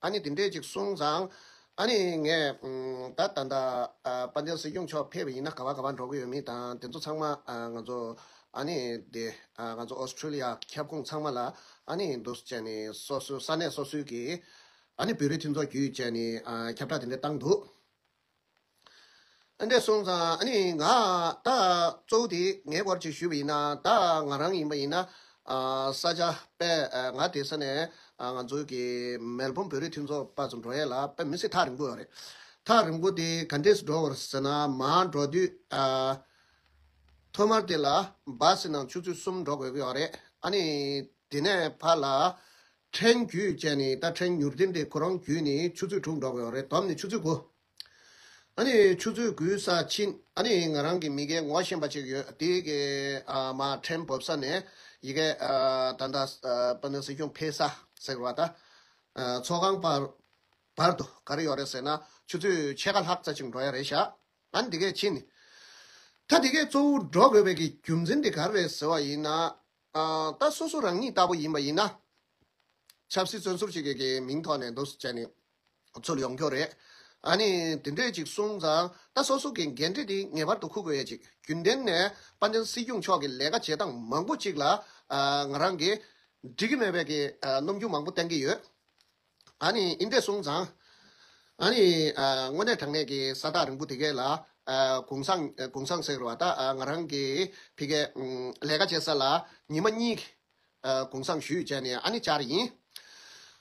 ཨ་ནི་དེ་འདྲས་ཅིག་གསུངས་ཙང། ཨ་ནི་ངས། ད་ལྟ་འདའ། དཔའ་མཛངས་སྲིད་སྐྱོང་མཆོག་ཕེབས་པ་ཡིན་ན་ག་བ་ག་བ་འགྲོ་གི་ཡོད་མིན་དང་དེ་ཚོ་ཚང་མ་ང་ཚོ། ཨ་ནི་དེ། ང་ཚོ་ཨོ་སི་ཁྲུ་ལི་ཡ་ཁྱབ་ཁོངས་ཚང་མ་ལ། ཨ་ནི་འདུ་བྱས་ནས་སོ་སོའི་ས་གནས་སོ་སོའི་གི། ཨ་ནི་བོད་རིགས་མཐུན་ཚོགས་བརྒྱུད་བཅས་ནས་ཁྱབ་བསྒྲགས་དེ་འདྲས་བཏང་འདུག། ཨ་འདྲས་སོང་ཙང་ཨ་ནི་ང་ད་གཙོ་བོ་དེ་ངས་སྐོར་ཅིག་ཞུས་པ་ཡིན་ན་ད་ང་རང་ཡིན་པ་ཡིན་ན་ས་ཆ་དཔེ་ང་དེ་ས་ནས་ང་ཚོའི་གི་མེལ་བོམ་བོད་རིགས་མཐུན་ཚོགས་པ་ཚོ་འགྲོ་ཡས་ལ་དཔེ་མི་སྲིད་ཐག་རིང་པོ་ཡོད་རེད་ཐག་རིང་པོ་དེ་ག་འདྲས་སུ་འགྲོ་བར་ཟེར་ན་མ་འགྲོ་དུས་ཐོག་མར་དེ་ལ་སྦ་སྲིད་ནང་ཆུ་ཚོད་གསུམ་འགྲོ་དགོས་ཀྱི་ཡོད་རེད་ཨ་ནི་དེ་ནས་ཕར་ལ་ཕྲན་རྒྱུད་བཅས་ནི་ད་ཕྲན་མྱུར་ལྡིང་དེ་ཁོ་རང་རྒྱུད་ནི་ཆུ་ཚོད་དྲུག་འགྲོ་གི་ཡོད་རེད་དོམ་ནི་ཆུ་ཚོད་དགུ། ཨ་ནི་ཆུ་ཚོད་དགུའི་ས་ཕྱིན་ཨ་ནི་ང་རང་གི་མི་རྒན་ངོ་ཤེས་པ་ཅིག་ཡོད་དེ་གི་མ་ཕྲན་བབས་ས་ནས་ཡི་གེ་ད་ལྟ་པ་ནི་སྲིད་སྐྱོང་འཕེལ་ས་ཟེར་བ་ད་ཚོགས་ཁང་བར་དུ་ག་རེ་ཡོད་རེད་ཟེར་ན་ཆུ་ཚོད་ཕྱེད་ཀ་ལྷག་ཙ་ཅིག་འགྲོ་ཡ་རེད་ཤག་ཨ་ནི་དེ་གས་ཕྱིན། ད་དེ་གས་གཙོ་བོ་འགྲོ་དགོས་པའི་གི་རྒྱུ་མཚན་དེ་ག་རེ་རེད་ཟེར་བ་ཡིན་ན་ད་སོ་སོ་རང་ཉིད་ལྟ་བུ་ཡིན་པ་ཡིན་ན། ཆབ་སྲིད་བཙོན་ཟུར་ཅིག་གི་མིང་ཐོག་ནས་འདུ་བྱས་ནས་ཚུར་ཡོང་ཁྱོ་རེད། ཨ་ནི་དེ་འདྲས་ཅིག་གསུངས་ཙང་ད་སོ་སོ་གི་འགན་འཁྲི་དེ་ངེས་པར་དུ་འཁུར་དགོས་ཡ་ཅིག་རྒྱུན་ལྡན་ནས་པ་ཎྡན་སྲིད་སྐྱོང་མཆོག་གི་ལས་ཀ་བྱེད་སྟངས་མང་པོ་ཅིག་ལ་ང་རང་གིས་འགྲིག་གི་མེད་པའི་ཀྱི་རྣམ་འགྱུར་མང་པོ་བསྟན་གྱི་ཡོད། ཨཱ་ནི་ཨིནྡྲའི་གསུང་བཟང། ཨཱ་ནི། དངོས་གནས་དྲང་གནས་ཀྱི་ས་བདག་རིང་པོ་དེ་གས་ལ། གུང་སང། གུང་སང་ཟེར་བ་དག་ང་རང་གི་ཕི་གས། ལས་ཀ་བྱེད་ས་ལ་ཉི་མ་གཉིས། གུང་སང་ཞུས་བྱས་ནས་ཨཱ་ནི་བཅར་ཡིན།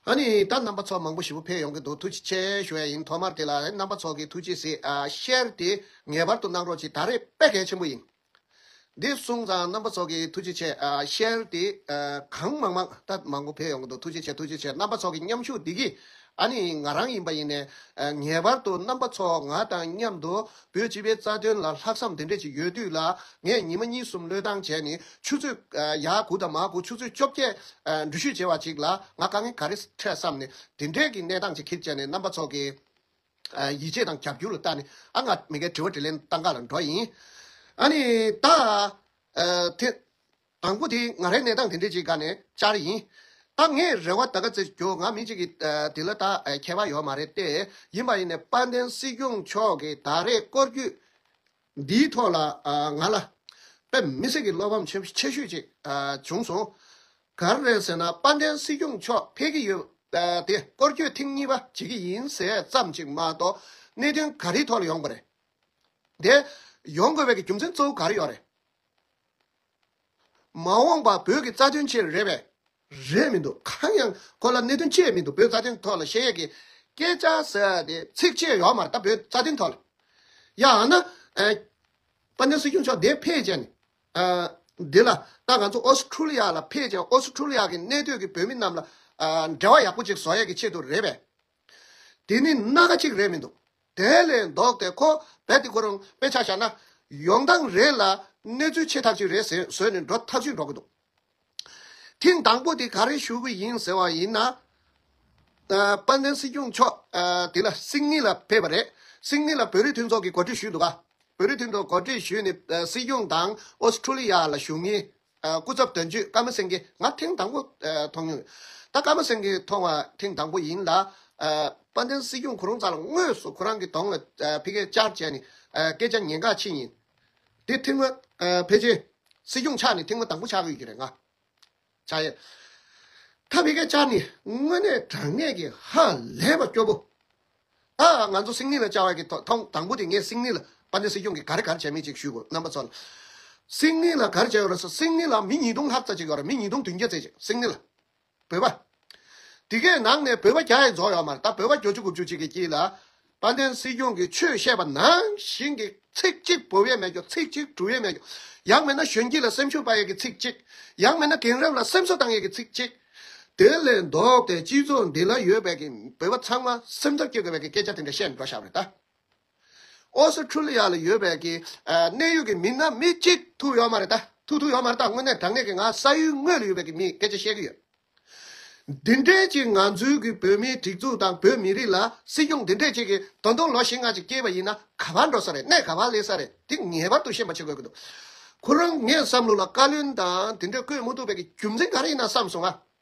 ཨཱ་ནི། ད་རྣམ་པ་ཚོ་མང་པོ་ཞི་བོ་ཕེབས་ཡོང་གི་འདུག་ཐུགས་རྗེ་ཆེ་ཞུ་བས་ཡིན་ཐོག་མར་དེ་ལ་རེད་རྣམ་པ་ཚོགས་ཀྱི་ཐུགས་རྗེ་གཟིགས། ཤེར་དེ་ངེས་པར་དུ་གནང་རོགས་གྱིས་ད་རེད་དཔེ་གལ་ཆེན་པོ་ཡིན། འདི་གསུང་ཙང་རྣམ་པ་ཚོགས་ཀྱི་ཐུགས་རྗེ་ཆེ། ཤེལ་དེ་གང་མང་མང་ད་མང་པོ་འཕེལ་ཡོང་གི་འདུག་ཐུགས་རྗེ་ཆེ་ཐུགས་རྗེ་ཆེ་རྣམ་པ་ཚོགས་ཀྱི་མཉམ་ཞུགས་འདི་གི་ཨ་ནི་ང་རང་ཡིན་པ་ཡིན་ནས་ངེས་པར་དུ་རྣམ་པ་ཚོ་ང་དང་མཉམ་དུ་བོད་སྤྱི་པའི་རྩ་དོན་ལ་ལྷག་བསམ་དེ་འདྲས་ཅིག་ཡོད་དུས་ལ་ངས་ཉིན་མ་གཉིས་གསུམ་བློས་བཏང་བྱས་ནི་ཆུ་ཚོད་ཡ་དགུ་དང་མ་དགུ་ཆུ་ཚོད་བཅོ་བརྒྱད་འགྲུལ་བཞུད་བྱས་བ་ཅིག་ལ་ང་དཀའ་ངལ་ག་རེ་འཕྲད་བསམ་ནས་དེ་འདྲས་ཀྱི་གནས་སྟངས་ཅིག་གིར་བཅད་ནས་རྣམ་པ་ཚོགས་ཀྱི། ཡིད་ཆེས་དང་རྒྱབ་སྐྱུར་ལ་བལྟ་ནས་ཨ་ང་མི་འགས་དྲི་བ་དྲིས་ལན་བཏང་ག་ལ་འགྲོ་ཡིན། ཨ་ནི། ད། དེ། དང་པོ་དེ་ང་རའི་གནས་སྟངས་དེ་འདྲས་ཅིག་ག་ནས་བཅར་ཡིན། ད་ངས་རེ་བ་ད་ག་ཚེ་རྒྱོ་ང་མི་གཅིག་གི་དེ་ལ་ད་ཁྱད་པ་ཡོད་མ་རེད་ཏེ་ཡིན་པ་ཡིན་ནས་དཔལ་ལྡན་སྲིད་སྐྱོང་མཆོག་གིས་ད་རེས་སྐོར་བརྒྱུད་འདིའི་ཐོག་ལ་ང་ལ་དཔེ་མི་སྲིད་ཀྱི་བློ་ཕམ་ཆེ་ཤོས་ཅིག་བྱུང་སོང། གར་རེད་ཟེར་ན་དཔལ་ལྡན་སྲིད་སྐྱོང་མཆོག་ཕེབས་ཀྱི་ཡོད་དེ་སྐོར་སྐྱོད་ཐེངས་གཉིས་པ་བྱེད་ཀྱི་ཡིན་ཟེར་ཙམ་ཅིག་མ་གཏོགས་གནད་དོན་ག་རེའི་ཐོག་ལ་ཡོང་པ་རེད་དེ། ཡོང་དགོས་པའི་རྒྱུ་མཚན་གཙོ་བོ་ག་རེ་ཡོད་རེད། མ་འོངས་པ་བོད་ཀྱི་རྩ་དོན་ཆེད་རེད་པས། རེད་མི་འདུག་གང་ཡང་ཁོ་ལ་གནད་དོན་ཅི་ཡོད་མི་འདུག་བོད་རྩ་དོན་ཐོག་ལ་གཞལ་ཡས་ཀྱི་སྐད་ཆ་ཟེར་བ་དེ་ཚིག་ཕྱེད་ཡོག་མ་རེད་ད་བོད་རྩ་དོན་ཐོག་ལ་ཡང་ན་དཔལ་ལྡན་སྲིད་སྐྱོང་མཆོག་དེ་ཕེད་ཅན་ནི་འདི་ལ་ད་ང་ཚོ་ཨོ་སི་ཁྲུ་ལི་ཡ་ལ་ཕེད་ཅན་ཨོ་སི་ཁྲུ་ལི་ཡ་གི་གནས་སྡོད་ཀྱི་བོད་མི་རྣམས་ལ་འབྲེལ་བ་ཡག་པོ་ཅིག་བཟོ་ཡས་ཀྱི་ཆེད་དུ་རེད་པས་དེ་ནི་སྣ་ཁ་ཅིག་རེད་མི་འདུག་དེ་ལས་ལྡོག་སྟེ་ཁོ་བད་དེ་ཁོ་རང་དཔེ་ཆ་བཞག་ན་ཡོང་སྟངས་རེད་ལ་གནས་ཚུལ་ཆེ་ཐག་ཅིག་རེད་ཟེར་བཟོས་ནས་འགྲོ་ཐག་ཆོད་འགྲོ་གི་འདུག། ཐེངས་དང་པོ་དེ་ག་རེ་ཞུ་གི་ཡིན་ཟེར་བ་ཡིན་ན། དཔལ་ལྡན་སྲིད་སྐྱོང་མཆོག་དེ་ལ་སིང་ངི་ལ་ཕེབས་པ་རེད། སིང་ངི་ལ་བོད་རིགས་མཐུན་ཚོགས་ཀྱི་གོ་སྒྲིག་ཞུས་འདུག་ག། བོད་རིགས་མཐུན་ཚོགས་གོ་སྒྲིག་ཞུས་ནས་སྲིད་སྐྱོང་དང་ཨོ་སི་ཁྲུ་ལི་ཡ་ལ་ཞུགས་ཉིན། སྐུ་ཚབ་དོན་གཅོད་ཀརྨ་སེང་གེ་ང་ཐེངས་དང་པོ་མཐོང་མྱོང་ཡོད། ད་ཀརྨ་སེང་གེ་མཐོང་བ་ཐེངས་དང་པོ་ཡིན་ལ། དཔལ་ལྡན་སྲིད་སྐྱོང་གོ་རུང་ཙག་ལ་དངོས་སུ་ཁོ་རང་གི་གདོང་ལ་ཕི་ཀའི་ཅར་བྱས་ནས་སྐད་ཆ་ཉན་ག་ཕྱིན་ཡིན། དེ་ཐེངས་མ་ཕེབས་རྗེས་སྲིད་སྐྱོང་ཆགས་ནས་ཐེངས་མ་དང་པོ་ཆགས་ཡོད་ཀྱི་རེད་ང། ཆགས་ཡོད། ཐ་མི་ཁ་བཅར་ནི་དངོས་གནས་དྲང་གནས་ཀྱི་ཧ་ལས་པ་སྐྱོ་པོ། ད་ང་ཚོ་སིང་ནི་ལ་བཅར་བ་ཀྱི་ཐོག་ཐོང་དང་པོ་དེ་ངས་སིང་ནི་ལ་པ་ནི་སྲིད་སྐྱོང་གི་གར་གར་བྱས་མེད་ཅིག་ཞུས་དགོས་རྣམ་པ་ཚོ་ལ། སིང་ནི་ལ་གར་བྱས་ཡོད་རེད་ས་སིང་ནི་ལ་མི་ཉིས་སྟོང་ལྷག་ཙ་ཅིག་ཡོད་རེད་མི་ཉིས་སྟོང་དུན་བརྒྱ་ཙེ་ཅིག་སིང་ནི་ལ། བོད་པ། དེ་གའི་ནང་ནས་བོད་པ་བརྒྱ་ཡི་རྫོགས་ཡོད་མ་རེད་ད་བོད་པ་བརྒྱོ་བཅུ་དགུ་བཅུ་གཅིག་གི་དཀྱིལ་ལ། དཔལ་ལྡན་སྲིད་སྐྱོང་གིས་ཆོས་བཤད་པ་ནང་བཞིན་གྱི་ཚིག་གཅིག་བོད་ཡས་མེད་རྒྱོ་ཚིག་གཅིག་གྲུ་ཡས་མེད་རྒྱོ། ཡང་མེད་ན་གཞོན་སྐྱེས་ལ་སེམས་ཤུགས་སྤར་ཡས་ཀྱི་ཚིག་གཅིག། ཡང་མེད་ན་དེང་རབས་ལ་སེམས་གསོ་བཏང་ཡས་ཀྱི་ཚིག་གཅིག། དེ་ལས་ལྡོག་སྟེ་སྤྱི་ཚོགས་འདི་ལ་ཡོད་པའི་གི་བོད་པ་ཚང་མ་སེམས་འཚབ་སྐྱེ་དགོས་པའི་གི་སྐད་ཆ་དེ་འདྲ་བཤད་མི་འགྲོ་ཤག་རེད་ད། ཨོ་སི་ཁྲུ་ལི་ཡ་ལ་ཡོད་པའི་གནད་ཡོད་ཀྱི་མི་སྣ་མི་གཅིག་ཐུག་ཡོད་མ་རེད་ད། ཐུག་ཐུག་ཡོད་མ་རེད་ད་དངོས་གནས་དྲང་གནས་ཀྱི་ང་ས་ཡུལ་དངོས་ལ་ཡོད་པའི་མིས་སྐད་ཆ་བཤད་ཀྱི་ཡོད། འདི་འདྲའི་གཅིག་ང་ཚོའི་གི་བོད་མིའི་སྒྲིག་འཛུགས་དང་བོད་མི་རིགས་ལ་སྲིད་སྐྱོང་འདི་འདྲས་གཅིག་གི་ད་དུང་ལོ་བཞི་ལྔ་གཅིག་སྐྱེས་པ་ཡིན་ན་ག་བར་འགྲོ་ས་རེད་གནད་ག་བར་སླེབས་ས་རེད་འདི་ངེས་པར་དུ་ཤེས་པ་བྱེད་དགོས་ཀྱི་འདུག་ཁོ་རང་ངས་བསམ་བློ་ལ་བཀའ་བློན་དང་འདི་འདྲས་བསྐོས་མི་ཐུབ་པའི་གི་རྒྱུ་མཚན་ག་རེ་ཡིན་ན་བསམ་སོང་ང།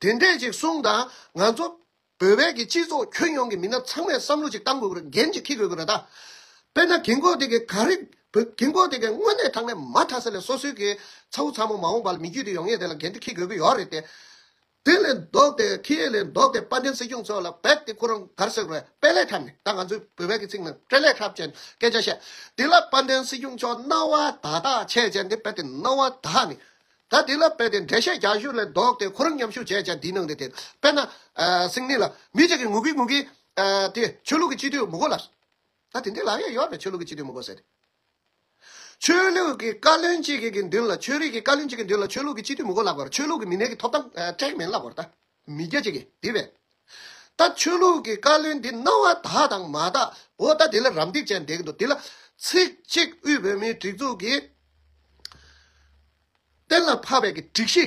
དེ་འདྲས་ཅིག་གསུངས་དང་ང་ཚོ་བོད་པའི་གི་སྤྱི་ཚོགས་ཁྱོན་ཡོངས་ཀྱི་མི་སྣ་ཚང་མས་བསམ་བློ་ཅིག་གཏང་དགོས་དགོས་རེད་འགན་ཅིག་འཁི་དགོས་དགོས་རེད་ད། དཔེར་ན་གིང་ཀོག་དེ་གི་ག་རེ་བོད་གིང་ཀོག་དེ་གི་དངོས་གནས་ཐང་ནས་མ་མཐའ་ས་ལས་སོ་སོའི་གི་ཚ་བོ་ཚ་མོ་མ་འོངས་པ་ལ་མི་རྒྱུད་དེ་ཡོང་ངེས་དེ་ལ་འགན་དེ་འཁི་དགོས་གི་ཡོག་རེད་དེ། དེ་ལས་ལྡོག་དེ་འཁི་ཡས་ལས་ལྡོག་དེ་དཔལ་ལྡན་སྲིད་སྐྱོང་ཚོ་ལ་བེད་དེ་ཁོ་རང་གར་སོད་རོད་དཔེ་ལས་འཁྲབ་ནས་ད་ང་ཚོའི་བོད་པའི་གི་ཚིག་ནང་སྤྲེ་ལས་འཁྲབ་ཅན་སྐད་ཆ་བཤད་དེ་ལ་དཔལ་ལྡན་སྲིད་སྐྱོང་མཆོག་རྣ་བ་དག་དག་ཆད་ཅན་དེ་བེད་དེ་རྣ་བ་དག་ནི་ད་དེ་ལ་དཔེ་དེ་འགྲེལ་བཤད་རྒྱ་གཞུང་ལས་ལྡོག་སྟེ་ཁོ་རང་ཉམས་ཞུགས་བྱས་བྱས་འདིའི་ནང་དུ་དེ་དཔེར་ན། སིང་ནི་ལ། མི་གཅིག་གིས་ངུ་གིན་ངུ་གིན། དེ། ཆོས་ལུགས་ཀྱི་སྤྱི་འཐུས་མི་གོ་ལ། ད་དེ་འདི་ལ་ཡང་ཡོད་རེད་ཆོས་ལུགས་ཀྱི་སྤྱི་འཐུས་མི་གོ་ཟེར། ཆོས་ལུགས་ཀྱི་བཀའ་བློན་གཅིག་གི་མདུན་ལ་ཆོས་རིག་གི་བཀའ་བློན་གཅིག་གི་མདུན་ལ་ཆོས་ལུགས་ཀྱི་སྤྱི་འཐུས་མི་གོ་ལ་བར་ཆོས་ལུགས་ཀྱི་མི་སྣའི་གི་ཐོབ་ཐང་སྤྲད་མིན་ལ་བར་ད། མི་རྒྱ་ཅིག་གིས་བསྡིགས་པས། ད་ཆོས་ལུགས་ཀྱི་བཀའ་བློན་འདི་གནང་བ་དག་དང་མ་དག་གོ་ད་དེ་ལ་རམ་འདེགས་བྱས་འདེགས་འདུག་དེ་ལ་ཚིག་གཅིག་དབུས་བོད་མིའི་སྒྲིག་འཛུགས་ཀྱི་གཏན་ལ་ཕབ་པའི་གི་སྒྲིག་གཞི་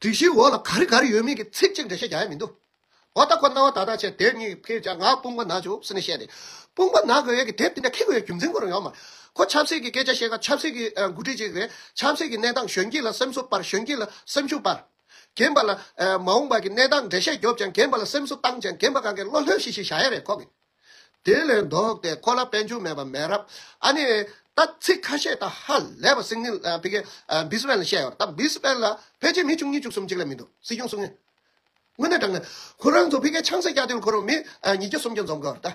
སྒྲིག་གཞིའི་འོག་ལ་ག་རེ་ག་རེ་ཡོད་མེད་ཀྱི་ཚིག་གཅིག་འགྲེལ་བཤད་རྒྱག་ཡ་མི་འདུག་གོ་ད་ཁོ་གནང་བ་དག་དང་བཅས་དེབ་གཉིས་ཕིར་བྱ་ང་དཔུང་པ་ན་བྱུག་ཟེར་ནས་བཤད་དེ་དཔུང་པ་ན་དགོས་ཡས་ཀྱི་དེབ་དེ་འདྲ་ཁེ་དགོས་ཡའི་རྒྱུ་མཚན་གོ་རང་ཡོང་མར་ཁོ་ཆབ་སྲིད་ཀྱི་སྐད་ཆ་བཤད་སྐབས་ཆབ་སྲིད་ཀྱི་འགོ་ཁྲིད་ཅིག་རེད་ཆབ་སྲིད་ཀྱི་གནས་སྟངས་གཞོན་སྐྱེས་ལ་སེམས་གསོ་སྤར་གཞོན་སྐྱེས་ལ་སེམས་ཤུགས་སྤར། རྒན་པ་ལ། མ་འོངས་པ་གི་གནས་སྟངས་འགྲེལ་བཤད་རྒྱོབ་ཅན་རྒན་པ་ལ་སེམས་གསོ་བཏང་ཅན་རྒན་པ་གང་གི་བློ་ལྷོད་ཤིག་ཤིག་བྱ་ཡ་རེད་ཁོ་གི། དེ་ལས་ལྡོག་སྟེ་ཁོ་ལ་དཔལ་འབྱོར་མེད་པ་མེད་རབས་ཨ་ནི། ད་ཚིག་ཁ་ཤས་དང་ཧ་ལས་པ་སིག་ནིལ་ཕི་གེ། འབིས་བེན་ལ་བཤད་ཡོད་རེད་ད་འབིས་བེན་ལ་ཕལ་ཆེར་མི་བཅུ་གཉིས་བཅུ་གསུམ་གཅིག་ལས་མི་འདུག་སྲིད་སྐྱོང་གསུམ་ནི། དངོས་གནས་དྲང་ནས། ཁོ་རང་ཚོ་ཕི་གེ་ཆང་ས་རྒྱག་དུས་ཁོ་རང་མི་ཉིས་བརྒྱ་སུམ་བརྒྱ་འཛོམས་དགོས་རེད་ད།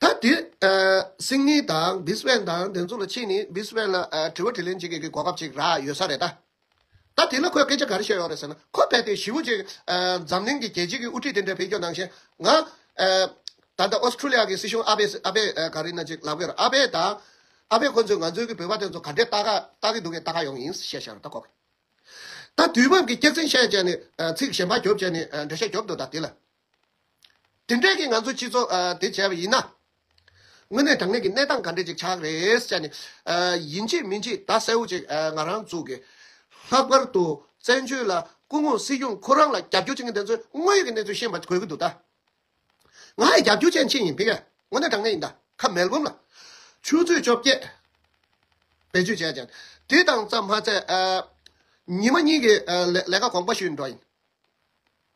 ད་དེ་སིང་ངེ་དང་བིས་བན་དང་དེ་ཚོ་ལ་ཕྱིས་ནས་བིས་བན་ལ་དྲི་བ་དྲི་ལན་བྱེད་དགོས་ཀྱི་གོ་སྐབས་ཅིག་རག་ཡོད་ས་རེད་ད། ད་དེ་ལ་ཁོས་སྐད་ཆ་ག་རེ་བཤད་ཡོད་རེད་ཟེར་ན་ཁོ་རྦད་དེ་བཞི་བོ་གཅིག་འཛམ་གླིང་གི་རྒྱལ་སྤྱི་གི་དབུ་ཁྲིད་དེ་འདྲ་བེད་སྐྱོ་ནང་བཞིན་ང། ད་ལྟ་ཨོས་ཏྲུ་ལི་ཡ་གི་སྲིད་གཞུང་ཨ་བེ་ཨ་བེ་ག་རེ་ན་ཅིག་ལབ་གི་རེད་ཨ་བེ་དང་ཨ་བེ་ཁོ་ཚོས་ང་ཚོའི་གི་བོད་པ་དེ་ཚོ་ག་འདྲས་བལྟ་གི་འདུག་གས་བལྟ་ག་ཡོང་གི་ཡིན་བཤད་བཤད་རོགས་ད་ཁོག། ད་དུས་བབ་ཀྱི་སྐྱག་རྫིང་བཤད་བྱས་ནས་ཚིག་གཞན་པ་རྒྱོབ་བྱས་ནས་འདྲ་བཤད་རྒྱོབ་འདུག་ད་དེ་ལ་དེ་འབྲེལ་གྱི་ང་ཚོའི་སྤྱི་ཚོགས་དེ་བྱས་པ་ཡིན་ན། དངོས་གནས་དྲང་གནས་ཀྱི་གནས་སྟངས་ག་འདྲས་ཅིག་ཆགས་རེད་ཅེ་ནས། ཡིན་གཅིག་མིན་གཅིག་བརྡ་གསལ་བོ་ཅིག་ང་རང་བཙུགས་དགོས། ལྷག་པར་དུ་བཙན་བྱོལ་ལ་སྐུ་ངོ་སྲིད་སྐྱོང་ཁོ་རང་ལ་རྒྱབ་སྐྱོར་བྱེད་མཁན་དེ་ཚོས་དངོས་ཡོད་ཀྱི་གནས་ཚུལ་ཤེས་པ་དགོས་ཀྱི་འདུག་ད། ང་ཡི་རྒྱབ་སྐྱོར་ཅན་ཅིག་ཡིན་དེ་གས་དངོས་གནས་དྲང་གནས་ཡིན་ད་ཁ་མལ་བུམ་ལ། ཆུ་ཚོད་བཅོ་བརྒྱད། བེད་སྤྱོད་བྱས་ཅིང། དེ་དང་རྩ་མ་ཚད། ཉི་མ་གཉིས་ཀྱི་ལས་ཀ་གོང་པ་ཞུས་འགྲོ་ཡིན།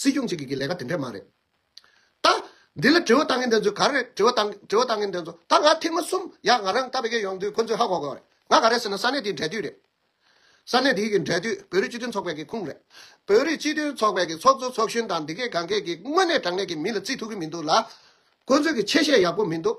སྲིད་སྐྱོང་གཅིག་གིས་ཀྱི་ལས་ཀ་དེ་འདྲས་མ་རེད། ད། འདི་ལ་དྲི་བ་བཏང་མཁན་དེ་ཚོས་ག་རེ་རེད་དྲི་བ་དང་དྲི་བ་བཏང་མཁན་དེ་ཚོ་ད་ང་ཐེངས་མ་གསུམ་ཡག་ང་རང་ཀ་བྷེ་གྷེ་ཡོང་དུས་ཁོ་ཚོས་ཧ་གོ་གོ་རེད་ང་ག་རེ་ཟེར་ན་ས་གནས་དེའི་འབྲེལ་མཐུད་རེད། ས་གནས་དེའི་གི་འབྲེལ་མཐུད་བོད་རིགས་སྤྱི་མཐུན་ཚོགས་པའི་གི་ཁུངས་རེད། བོད་རིགས་སྤྱི་མཐུན་ཚོགས་པའི་གི་ཚོགས་གཙོ་ཚོགས་གཞོན་དང་འདི་སྐད་གང་སྐད་ཀྱིས་དངོས་གནས་དྲང་གནས་ཀྱི་མི་ལ་བརྩི་ཐུབ་གི་མི་འདུག་ལ། ཁོ་ཚོས་གི་ཆེ་བཤད་ཡག་པོ་མི་འདུག།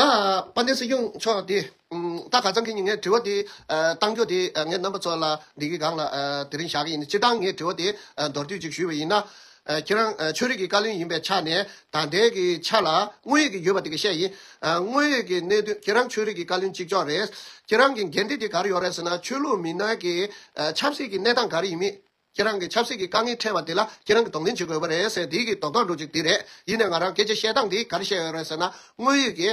ད་པ་ནེ་སི་གཡུང་མཆོག་དེ་ད་ག་ཙང་གིས་ངའི་དྲི་བ་དེ་གཏང་རྒྱུ་དེ་ངའི་རྣམ་པ་ཚོ་ལ་འདི་གི་སྒང་ལ་དེ་རིང་བཞག་གི་ཡིན་སྤྱིར་བཏང་ངའི་དྲི་བ་དེ་མདོར་བསྡུས་གཅིག་ཞུས་པ་ཡིན་ན། ཁྱེད་རང་ཆོས་རིག་གི་བཀའ་བློན་ཡིན་པའི་ཆ་ནས་ད་ལྟའི་གི་ཆ་ལ་དངོས་ཡོད་གི་ཡོད་པ་དེ་གི་བཤད་ཡིན། དངོས་ཡོད་གི་གནད་དོན་ཁྱེད་རང་ཆོས་རིག་གི་བཀའ་བློན་གཅིག་ལྕོགས་རེད། ཁྱེད་རང་གི་འགན་འཁྲི་དེ་ག་རེ་ཡོད་རེད་ཟེར་ན་ཆོས་ལུགས་མི་སྣ་གི་ཆབ་སྲིད་ཀྱི་གནས་སྟངས་ག་རེ་ཡིན་མིན། ཁྱེད་རང་གི་ཆབ་སྲིད་ཀྱི་དཀའ་ངལ་འཕྲད་པ་འདི་ལ་ཁྱེད་རང་གི་དོགས་འཛིན་བྱེད་དགོས་པ་རེད་ཟེར་དེའི་དོགས་གཏམ་འགྲོ་གཅིག་འདི་རེད། ཡིན་ནའི་ང་རང་སྐད་ཆ་བཤད་སྟངས་འདི་ག་རེ་བཤད་ཡོད་རེད་ཟེར་ན། དངོས་ཡོད་ཀྱི།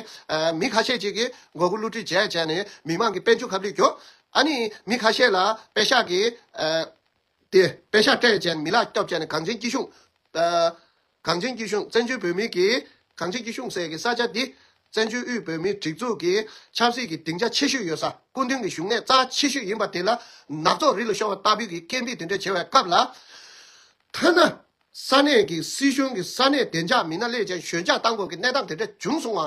མི་ཁ་ཤས་ཅིག་གིས་མགོ་སྒུར་བསླུ་བྲིད་བྱས་བྱས་ནས་མི་མང་གི་དཔལ་འབྱོར་ཁབ་ལེགས་གྱོན། ཨ་ནི། མི་ཁ་ཤས་ལ་དཔེ་ཤག་གིས། དེ་དཔེ་ཤག་སྤྲད་བྱས་ནས་མི་ལག་སྐྱོབ་བྱས་ནས་གངས་ཅན་སྐྱིད་གཤོངས། གངས་ཅན་སྐྱིད་གཤོངས་བཙན་བྱོལ་བོད་མིའི་གིས་གངས་ཅན་སྐྱིད་གཤོངས་ཟེར་གི་ས་ཆ་འདི་བཙན་བྱོལ་དབུས་བོད་མིའི་སྒྲིག་འཛུགས་ཀྱི་ཆབ་སྲིད་ཀྱི་སྡིངས་ཆ་ཆེ་ཤོས་ཡོད་ས་སྐུ་མདུན་གྱི་བཞུགས་གནས་རྩ་ཆེ་ཤོས་ཡིན་པ་དེ་ལ་ནག་ཚོགས་རི་ལ་ཤོར་བ་ལྟ་བུའི་གི་སྐད་འཕིགས་དེ་འདྲས་བྱེད་བའི་སྐབས་ལ། ཐ་ན་ས་གནས་ཀྱི་སྲིད་གཞུང་གི་ས་གནས་བདེ་འཇགས་མི་སྣ་ལས་ཅན་ཞོད་འཇགས་བཏང་དགོས་ཀྱི་གནས་སྟངས་དེ་འདྲས་བྱུང་སོང་བ།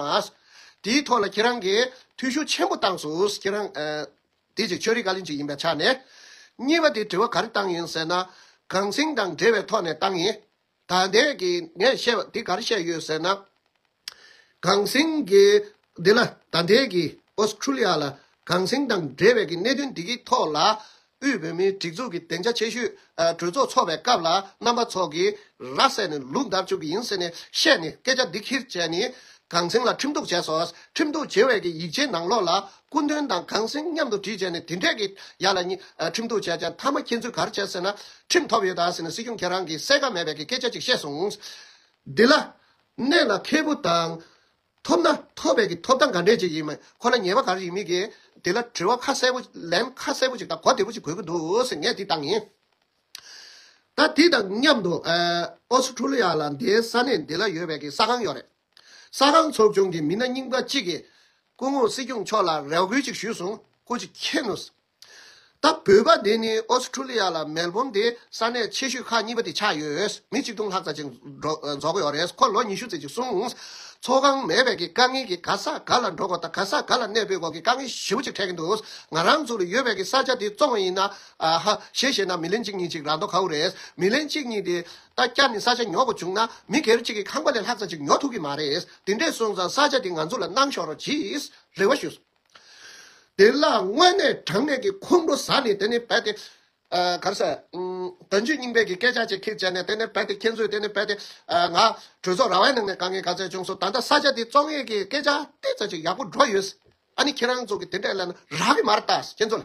དེའི་ཐོག་ལ་ཁྱེད་རང་གིས་ཐུགས་ཤུགས་ཆེན་པོ་བཏང་སོས་ཁྱེད་རང། དེ་ཅིག་ཆོས་རིག་བཀའ་བློན་ཅིག་ཡིན་པའི་ཆ་ནས། གཉིས་པ་དེ་དྲི་བ་ག་རེ་བཏང་ཡིན་ཟེར་ན། གངས་སེང་དང་འབྲེལ་བའི་ཐོག་ནས་བཏང་ཡིན། དགའ་ལྡན་གྱིས་ངས་བཤད་པ་འདི་གར་བཤད་ཡོད་ཟེར་ན། གངས་སེང་གིས་འདི་ལ་དགའ་ལྡན་གྱིས Australia ལ་གངས་སེང་དང་འབྲེལ་བའི་གི་གནད་དོན་འདི་གི་ཐོག་ལ་དབུས་བོད་མིའི་སྒྲིག་འཛུགས་ཀྱི་བདེ་འཇགས་ཆེ་ཤོས་གྲོས་ཚོགས་ཚོགས་པའི་སྐབས་ལ་རྣམ་པ་ཚོགས་ཀྱིས་ར་བསད་ནས་ལུག་འདར་བཅུག་གི་ཡིན་ཟེར་ནས་བཤད་ནས་སྐད་ཆ་འདི་ཁྱིར་བྱས་ནས་གངས་སེང་ལ་ཁྲིམས་གཏུགས་བྱས་སོ། ཁྲིམས་གཏུགས་བྱས་བའི་གི་ཡིག་ཆའི་ནང་ལོགས་ལ་སྐུ་མདུན་དང་གངས་སེང་མཉམ་དུ་བྲིས་བྱས་ནས་དེ་འཕྲལ་གྱི་ཡ་ལ་གཉིས་ཁྲིམས་གཏུགས་བྱས་ཀྱང་མཐའ་མ་ཁྱེད་ཚོས་གར་བྱས་ཟེར་ན། ཁྲིམས་ཐོབ་ཡོད་དཱ་ཟེར་ན་སྲིད་སྐྱོང་ཁྱེད་རང་གིས་གསལ་ཁ་མེད་པའི་གི་སྐད་ཆ་ཅིག་བཤད་སོང། འདི་ལ། གནད་ལ་འཁེལ་པོ་དང། ཐོབ་ན་ཐོབ་པའི་གི་ཐོབ་ཐང་ག་འདྲས་ཅིག་ཡིན་མིན་ཁོ་ན་ཉེས་པ་ག་རེ་ཡིན་མིན་གྱི་དེ་ལ་དྲི་བ་ཁ་གསལ་པོ་ལན་ཁ་གསལ་པོ་ཅིག་དང་གོ་བདེ་པོ་ཅིག་དགོས་ཀྱི་འདུག་གནད་འདི་ལྟར་ཡིན། ད་དེ་དང་མཉམ་དུ་ཨོ་སི་ཁྲུ་ལི་ཡ་ལ་འདའི་ས་གནས་འདི་ལ་ཡོད་པའི་གི་ས་ཁང་ཡོད་རེད། ས་ཁང་ཚོགས་ཆུང་གི་མི་སྣ་རྙིང་པ་གཅིག་གིས་སྐུ་ངོ་སྲིད་སྐྱོང་མཆོག་ལ་རེ་བསྐུལ་ཅིག་ཞུས་སོང་སྐུ་ཅིག་མཁྱེན་ནོ། ད་བོད་པ་འདི་ནི་ཨོ་སི་ཁྲུ་ལི་ཡ་ལ་མེལ་བོམ་འདའི་ས་གནས་ཆེ་ཤོས་ཁག་གཉིས་པ་དེ་ཆགས་ཡོད། མི་གཅིག་སྟོང་ལྷག་ཙ་ཅིག་འཛོགས་ཡོད་རེད་ཁོ་ལོ་ཉི་ཤུ་ཙི་ཅིག་སོང། ཚོགས་ཁང་མེད་པའི་གི་དཀའ་ངལ་གི་ག་ས་ག་ལ་འགྲོ་དགོས་དང་ག་ས་ག་ལ་གནས་སྤོས་དགོས་གི་དཀའ་ངལ་ཞིབ་པོ་ཅིག་འཕྲད་གི་འདུག་ང་རང་ཚུར་ཡོད་པའི་གི་ས་ཆ་འདི་བཙོང་བ་ཡིན་ན། ཨ་ཧ། ཞེས་བཤད་ན་མི་ལན་གཅིག་གཉིས་ཅིག་རག་མདོག་ཁའུ་རེད། མི་ལན་གཅིག་གཉིས་དེས་ད་བསྐྱར་ནི་ས་ཆ་ཉོ་དགོ་བྱུང་ན་མི་སྒེར་གཅིག་གི་ཁང་པ་ལས་ལྷག་ཙ་ཅིག་ཉོ་ཐུག་གི་མ་རེད། དེ་འདྲས་སོང་ཙང་ས་ཆ་དེ་ང་ཚོ་ལ་གནང་ཤོག་རོགས་གྱིས། རེ་བ་ཞུ། དེ་ལ་དངོས་གནས་དྲང་གནས་ཀྱི་ཁོང་ཁྲོ་ཟ་ནི་དེ་ནི་རྦད་དེ། ག་རེ་ཟེར། དོན་བརྗོད་རྙིང་པས་ཀྱི་སྐད་ཆ་ཅིག་ཁིག་བྱས་ནས་དེ་ནི་རྦད་དེ་ཁྱེད་ཚོས་དེ་ནི་རྦད་དེ། ང། གྲོས་ཚོགས་ར་བའི་ནང་ནས་དཀའ་ངལ་ག་ཚད་བྱུང་སོང་ད་ལྟ་ས་ཆ་དེ་བཙོང་ཡས་ཀྱི་སྐད་ཆ་ཏིལ་ཙ་ཅིག་ཡག་པོ་སྒྲོག་ཡོད། ཨ་ནི་ཁྱེད་རང་ཚོ་གི་དེ་འདྲས་ལན་རག་གི་མ་རེད་ད། ཁྱེད་ཚོ་ལ།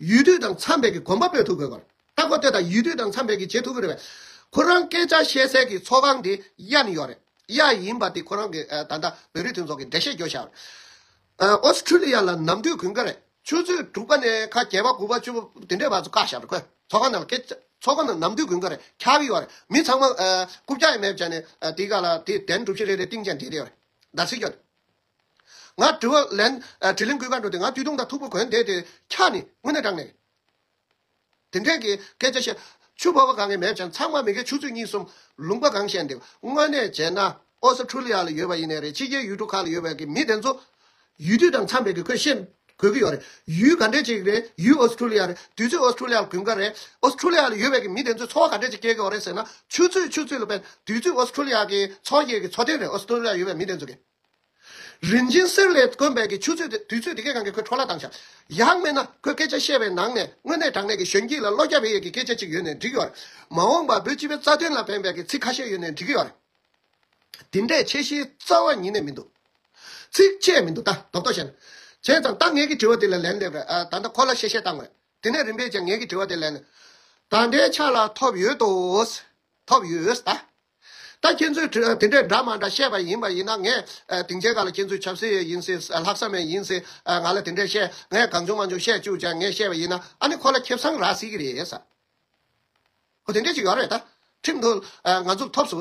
ཡུལ་དུས་དང་འཚམས་པའི་གི་གོམ་པ་སྤོས་ཐུབ་དགོས་པར་ལྟ་གོ་ལྟོས་དང་ཡུལ་དུས་དང་འཚམས་པའི་གི་བྱེད་ཐུབ་ཀི་རེད་པས། ཁོ་རང་སྐད་ཆ་བཤད་སའི་གི་ཚོགས་ཁང་དེ་གཡའ་ནི་ཡོད་རེད། གཡའ་ཡིན་པ་དེ་ཁོ་རང་གི་ད་ལྟ་བོད་རིགས་མཐུན་ཚོགས་ཀི་འགྲེལ་བཤད་རྒྱོ་ཞག་རེད། Australia ལ་ནམ་དུས་གུན་ཁ་རེད་ཆུ་ཚོད་དྲུག་པ་ནས་ཁ་བརྒྱད་པ་དགུ་པ་བཅུ་པ་དེ་འདྲའི་བར་དུ་བཀག་ཞག་རེད་ཁོས་ཚོགས་ཁང་ནང་ལ་སྐད་ཆ་ཚོགས་ཁང་ནང་ནམ་དུས་གུན་ཁ་རེད་འཁྱག་གི་ཡོད་རེད་མི་ཚང་མ་རྐུབ་བཀྱག་ཡས་མས་བྱས་ནས་དེ་ག་ལ་དེ་དན་གྲུབ་བཞི་རེ་རེ་སྟེང་བཅས་འགྲེལ་གི་ཡོད་རེད། ཟླ་ཚེས་སྐྱོ། ང་དྲི་བ་ལན། དྲི་ལན་གུས་ཀ་འགྲོ་དེ་ང་དུས་ཐུང་དང་ཐུག་པོ་གོན་དེ་དེ་འཁྱག་ནི་དངོས་གནས་དྲང་གནས། དེ་འདྲས་ཀྱི་སྐད་ཆ་བཤད། ཆུ་བ་བ་གང་གི་མེད་ཀྱང་ཚང་མ་མི་སྒེར་ཆུ་ཚོད་གཉིས་གསུམ་ལུང་པ་གང་བཤད་འདེབས་དངོས་གནས་བྱས་ན་ཨོ་ས་ཁྲུ་ལི་ཡ་ལ་ཡོད་པ་ཡིན་ནས་རེད་ཕྱི་རྒྱལ་ཡུལ་གྲུ་ཁག་ལ་ཡོད་པའི་གི་མི་དེ་ཚོ་ཡུལ་དུས་དང་འཚམས་པའི་གི་ཁོས་བཤད་དགོས་གི་ཡོད་རེད་ཡུལ་ག་འདྲས་ཅིག་རེད་ཡུལ་ཨོ་ས་ཁྲུ་ལི་ཡ་རེད་དུས་ཚོད་ཨོ་ས་ཁྲུ་ལི་ཡ་ལ་གུན་དགའ་རེད་ཨོ་ས་ཁྲུ་ལི་ཡ་ལ་ཡོད་པའི་གི་མི་དེ་ཚོས་འཚོ་བ་ག་འདྲས་ཅིག་སྐྱེལ་གི་ཡོད་རེད་ཟེར་ན་ཆུ་ཚོད་ཆུ་ཚོད་ལ་བལ་དུས་ཚོད་ཨོ་ས་ཁྲུ་ལི་ཡ་གི་འཚོ་སྐྱེལ་གི་འཚོ་རྟེན་རེད་ཨོ་ས་ཁྲུ་ལི་ཡ་ཡོད་པའི་མི་དེ་ཚོ་གི། རིན་ཆེན་གསེར་ལས་དཀོན་པའི་གི་ཆུ་ཚོད་དེ་དུས་ཚོད་དེ་གས་གང་གི་ཁོའི་འཕྲོ་བརླག་བཏང་ཞག་ཡག་མེད་ན་ཁོས་སྐད་ཆ་བཤད་པའི་ནང་ནས་དངོས་གནས་དྲང་གནས་ཀྱི་གཞོན་སྐྱེས་ལ་བློ་རྒྱ་བེ་ཡས་ཀྱི་སྐད་ཆ་གཅིག་ཡོད་ནས་འགྲིག་གི་ཡོད་རེད་མ་འོངས་པ་བོད་སྤྱི་པའི་རྩ་དོན་ལ་ཕན་པའི་གི་ཚིག་ཁ་ཤས་ཡོད་ནས་འགྲིག་གི་ཡོད་རེད་དེ་འདྲས་ཆེ་བཞིའི་རྩ་བ་ཉིད་ནས་མི་འདུག་ཚིག་བཅད་མི་འདུག་ད་དོག་དོག་བྱས་ན་བྱས་ཙང་ད་ངས་གི་དྲི་བ་དེ་ལ་ལན་འདེབས་རེད་ད་ལྟ་ཁོ་ལ་བཤད་བཤད་བཏང་མོད་དེ་ནས་རིམ་པས་ཀྱང་ངས་གི་དྲི་བ་དེ་ལན་ད་ལྟའི་ཆ་ལ་ཐོབ་ཡོད་དོ། ཐོབ་ཡོད་ད། ད་ཁྱེད་ཚོས་དེ་འདྲས་འདྲ་མ་འདྲ་བཤད་པ་ཡིན་པ་ཡིན་ན་ངས་དེང་ཆད་ག་ལ་ཁྱེད་ཚོས་ཆབ་སྲིད་ཡིན་སྲིད་ལྷག་བསམ་ཡང་ཡིན་སྲིད་ང་ལ་དེ་འདྲས་བཤད་ངས་གང་བྱུང་མ་བྱུང་བཤད་བཅུག་ཅིང་ངས་བཤད་པ་ཡིན་ན་ཨ་ནི་ཁོ་ལ་ཁེབ་བཟང་རག་སྲིད་ཀྱི་རེད་ས་ཁོ་དེ་འདྲས་ཅིག་ཡོད་རེད་ད་ཁྲིམས་དུ་ང་ཚུགས་ཐོབ་སུ་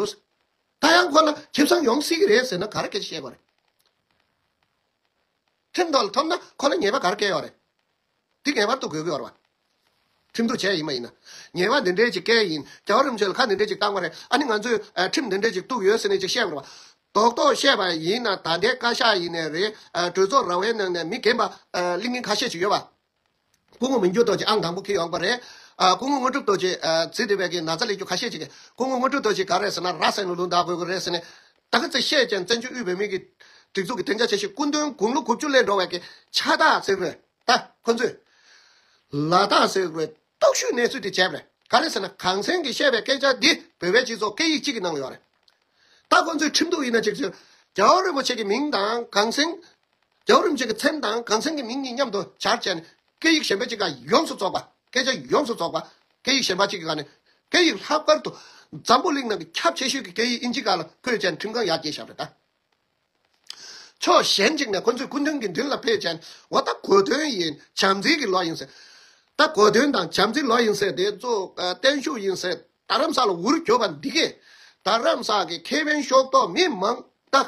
ད་ཡང་ཁོ་ལ་ཁེབ་བཟང་ཡོང་སྲིད་ཀྱི་རེད་ཟེར་ན་ག་རེ་སྐད་ཆ་བཤད་དགོས་རེད་ཁྲིམས་དུ་ཐོབ་ན་ཁོ་ལ་ཉེས་པ་ག་རེ་བཀལ་ཡོད་རེད། འདི་ངེས་པར་དུ་དགོས་དགོས་བར་བ། ཁྲིམས་བསྡུ་བྱས་ཡིན་མ་ཡིན། ཉེས་བ་འདི་འདྲའི་ཅིག་སྐལ་ཡིན། རྒྱ་གར་རིམ་བྱོན་ལ་ཁ་འདི་འདྲའི་ཅིག་བཏགས་པ་རེད་ཨ་ནི་ང་ཚོས་ཁྲིམས་འདི་འདྲའི་ཅིག་གཏུགས་ཡོད་ཟེར་ནས་ཅིག་བཤད་དགོས་རེད་བ། རྡོག་རྡོག་བཤད་པ་ཡིན་ན་ད་ལྟའི་བཀའ་ཤག་ཡིན་ནས་རེད་གྲོས་ཚོགས་ར་བའི་ནང་ནས་མི་རྒན་པ་གླིང་སྙིང་ཁ་ཤས་ཅིག་ཡོད་བ། སྐུ་ངོ་མི་འགྱུར་རྡོ་རྗེ་ཨང་དང་པོ་ཁེལ་ཡོང་གི་རེད། སྐུ་ངོ་དངོས་གྲུབ་རྡོ་རྗེས་ཚིག་འདི་བས་ཀྱི་ན་ཚ་ལས་རྒྱུ་ཁ་ཤས་ཅིག་གིས་སྐུ་ངོ་དངོས་གྲུབ་རྡོ་རྗེ་ག་རེ་ཟེར་ན་ར་སེ་ལུ་ལུ་འདག་དགོས་ཀྱི་རེད་ཟེར་ནས་ད་ག་ཚད་བཤད་ཀྱང་བཙན་བྱོལ་དབུས་བོད་མིའི་གི་སྒྲིག་འཛུགས་ཀྱི་བདེ་འཇགས་བྱེད་ཤེས་སྐུ་མདུན་དགུང་ལོ་དགུ་བཅུ་ལས་འགྲོ་བའི་གི་ཕྱག་རྟགས་ཟེར་བའི་ད་ཁོ་ཚོས་ལ་དྭགས་ཟེར་བའི་རྟོག་ཞུས་གནས་ཚུལ་དེ་བྱས་པ་རེད་ག་རེད་ཟེར་ན་གངས་སེང་གི་བཤད་པའི་སྐད་ཆ་འདི་བོད་པའི་སྤྱི་ཚོགས་སྐད་ཡིག་གཅིག་གི་ནང་ཡོད་རེད་ད་ཁོ་ཚོས་ཁྲིམས་གཏུགས་ཡིན་ན་ཅིག་ཅིག་རྒྱ་བོད་རིན་པོ་ཆེ་གི་མིང་དང་གངས་སེང་རྒྱ་བོད་རིན་པོ་ཆེ་གི་ཚེམས་དང་གངས་སེང་གི་མིང་གཉིས་མཉམ་དུ་བྱར་བྱས་ནས་སྐད་ཡིག་གཞན་པའི་ཅིག་ལ་ཡོངས་སུ་རྫོགས་པ། སྐད་ཆ་ཡོངས་སུ་རྫོགས་པ། སྐད་ཡིག་གཞན་པ་གཅིག་གི་སྒང་ནས། སྐད་ཡིག་ལྷག་པར་དུ། འཛམ་བུ་གླིང་ནང་གི་ཁྱབ་ཆེ་ཤོས་ཀྱི་སྐད་ཡིག་དབྱིན་ཇི་སྒང་ལ་བོད་ཅན་ཁྲིམས་ཁང་ཡར་རྒྱས་བཞག་པའི་བརྡ། ཕྱོགས་གཞན་གཅིག་ནས་ཁོ་ཚོས་སྐུ་མདུན་གྱི་མདུན་ལ་བོད་ཅན་འོ་ད་གོ་དོན་ཡིན་བྱམས་བརྩེ་གི་ལོ་ཡིན་ཟེར། ད་གོ་དོན་དང་བྱམས་བརྩེ་ལོ་ཡིན་ཟེར་དེ་ཚོ་བརྟན་བཞུགས་ཡིན་ཟེར་རྡ་རམ་ས་ལ་འུར་གྱོ་བ་འདི་གས་རྡ་རམ་ས་ཀྱི་ཁེ་ཕན་ཤོག་ཐོག་མི་མང་བདག་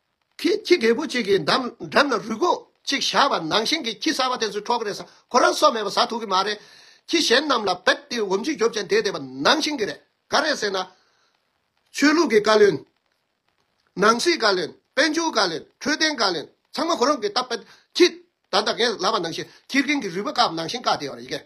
ཁྱི་ཁྱི་རྒད་པོ་གཅིག་གི་འགྲམ་འགྲམ་ན་རུས་སྒོ་གཅིག་བཞག་པ་ནང་བཞིན་གྱི་ཁྱི་གསར་པ་དེ་ཚོའི་འཕྲོག་རེས་ཁོ་རང་སོགས་མེད་པ་ཟ་ཐུབ་ཀྱི་མ་རེད། ཁྱི་གཞན་རྣམས་ལ་བེད་ཏི་འོམ་ཅིག་རྒྱོབ་ཀྱང་དེ་དེ་བ་ནང་བཞིན་གྱི་རེད། ག་རེད་ཟེར་ན། ཆོས་ལུགས་ཀྱི་བཀའ་བློན། ནང་སྲིད་བཀའ་བློན། དཔལ་འབྱོར་བཀའ་བློན། འཕྲོད་བསྟེན་བཀའ་བློན། ཚང་མ་ཁོ་རང་གི་སྟབས་བེད་ཁྱི། ད་ད་གན་ལ་བ་ནང་བཞིན་ཁྱི་རྒན་གྱི་རུས་པ་བཀག་པ་ནང་བཞིན་བཀག་བསྡད་བ་རེད།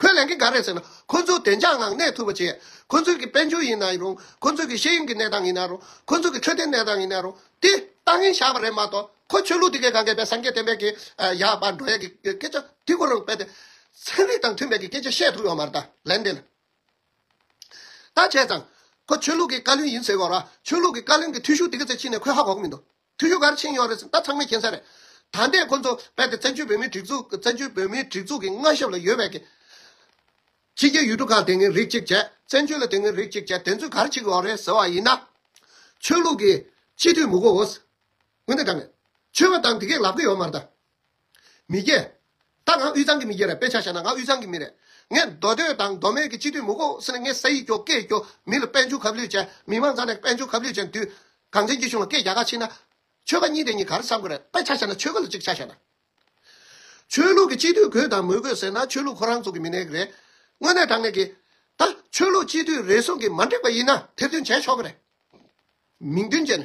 ཁོས་ལན་གྱི་ག་རེ་ཟེར་ན་ཁོ་ཚོའི་བདེ་འཇགས་ངང་གནས་ཐུབ་པ་བྱེད། ཁོ་ཚོའི་གི་དཔལ་འབྱོར་ཡིན་ན་རུང་ཁོ་ཚོའི་གི་ཤེས་ཡོན་གྱི་གནས་སྟངས་ཡིན་ན་རུང་ཁོ་ཚོའི་གི་འཕྲོད་བསྟེན་གནས་སྟངས་ཡིན་ན་རུང་དེ་ལྟ་ངན་བཞག་པ་རེད་མ་གཏོགས་ཁོ་ཆོས་ལུགས་འདི་གའི་གངྒཱའི་བལ་སངས་རྒྱས་བསྟན་པའི་གི་ཡག་པ་འགྲོ་ཡས་གི་སྐད་ཆ་དེ་ཁོ་རང་དཔེ་དེ་ཚན་རིག་དང་མཐུན་པའི་གི་སྐད་ཆ་བཤད་ཐུབ་ཡོད་མ་རེད་ད་ལན་དེ་ལ་ད་བྱས་ཙང་ཁོ་ཆོས་ལུགས་གི་བཀའ་བློན་ཡིན་ཟེར་གོ་ར་ཆོས་ལུགས་གི་བཀའ་བློན་གི་ཐུས་ཤུགས་དེ་ག་ཚད་ཕྱིན་ནས་ཁོས་ཧ་གོ་གི་མི་འདུག། ཐུ་ཡུ་གར་ཕྱིན་ཡོད་རེད་ཟེར་ད་ཚང་མས་མཁྱེན་ས་རེད། ད་ལྟའི་ཁོང་ཚོ་རྦད་དེ་བཙན་བྱོལ་བོད་མིའི་སྒྲིག་འཛུགས་བཙན་བྱོལ་བོད་མིའི་སྒྲིག་འཛུགས་ཀྱི་མངའ་ཞབས་ལ་ཡོད་བས་ཀྱི། ཕྱི་རྒྱལ་ཡུལ་གྲུ་ཁག་དེ་སྔའི་རིགས་གཅིག་བྱས། བཙན་བྱོལ་ལ་དེ་སྔའི་རིགས་གཅིག་བྱས་དེ་ཚོས་གར་ཕྱིག་ཡོད་རེད་ཟེར་བ་ཡིན་ན། ཆོས་ལུགས་ཀྱིས་སྤྱི་འཐུས་མི་གོ་འོས། འོན་ཏེ་ད་ནས། ཆོས་བ་དང་དེ་གས་ལབ་ཀྱི་ཡོད་མ་རེད་ད། མི་སྐྱེ། ད་ང་དབུས་གཙང་གི་མི་སྐྱེ་རེད་དཔེ་ཆ་བཤད་ན་ང་དབུས་གཙང་གི་མི་རེད། ངས་མདོ་སྟོད་དང་མདོ་སྨད་ཀྱི་སྤྱི་འཐུས་མུ་ཁོ་སི་ནས་ངས་ས་ཡིག་སྐྱོ་སྐད་སྐྱོ་མི་ལ་དཔལ་འབྱོར་ཁབ་ལུས་ཅན་མི་མང་ཚང་ནས་དཔལ་འབྱོར་ཁབ་ལུས་ཅན་དུས་གང་བཙན་གྱིས་གཞུང་ལ་སྐད་རྒྱག་ཁ་ཕྱིན་ན། ཆོལ་ཁ་གཉིས་དེ་གཉིས་ག་རེ་བསམ་དགོས་རེད་དཔེ་ཆ་བཤད་ན་ཆོལ་ཁ་ལ་ཅིག་ཆ་བཤད་ན། ཆོས་ལུགས་ཀྱི་སྤྱི་འཐུས་གོས་དང་མོས་དགོས་ཟེར་ན་ཆོས་ལུགས་ཁོ་རང་ཚོ་གི་མི་སྣའི་རེད། དངོས་གནས་དྲང་གནས་ཀྱི། ད་ཆོས་ལུགས་སྤྱི་འཐུས་རེ་ཟུང་གིས་མ་འགྲིག་པ་ཡིན་ན་ཐེར་འདོན་བྱས་ཆོག་གི་རེད། མིང་དོན་ཅན།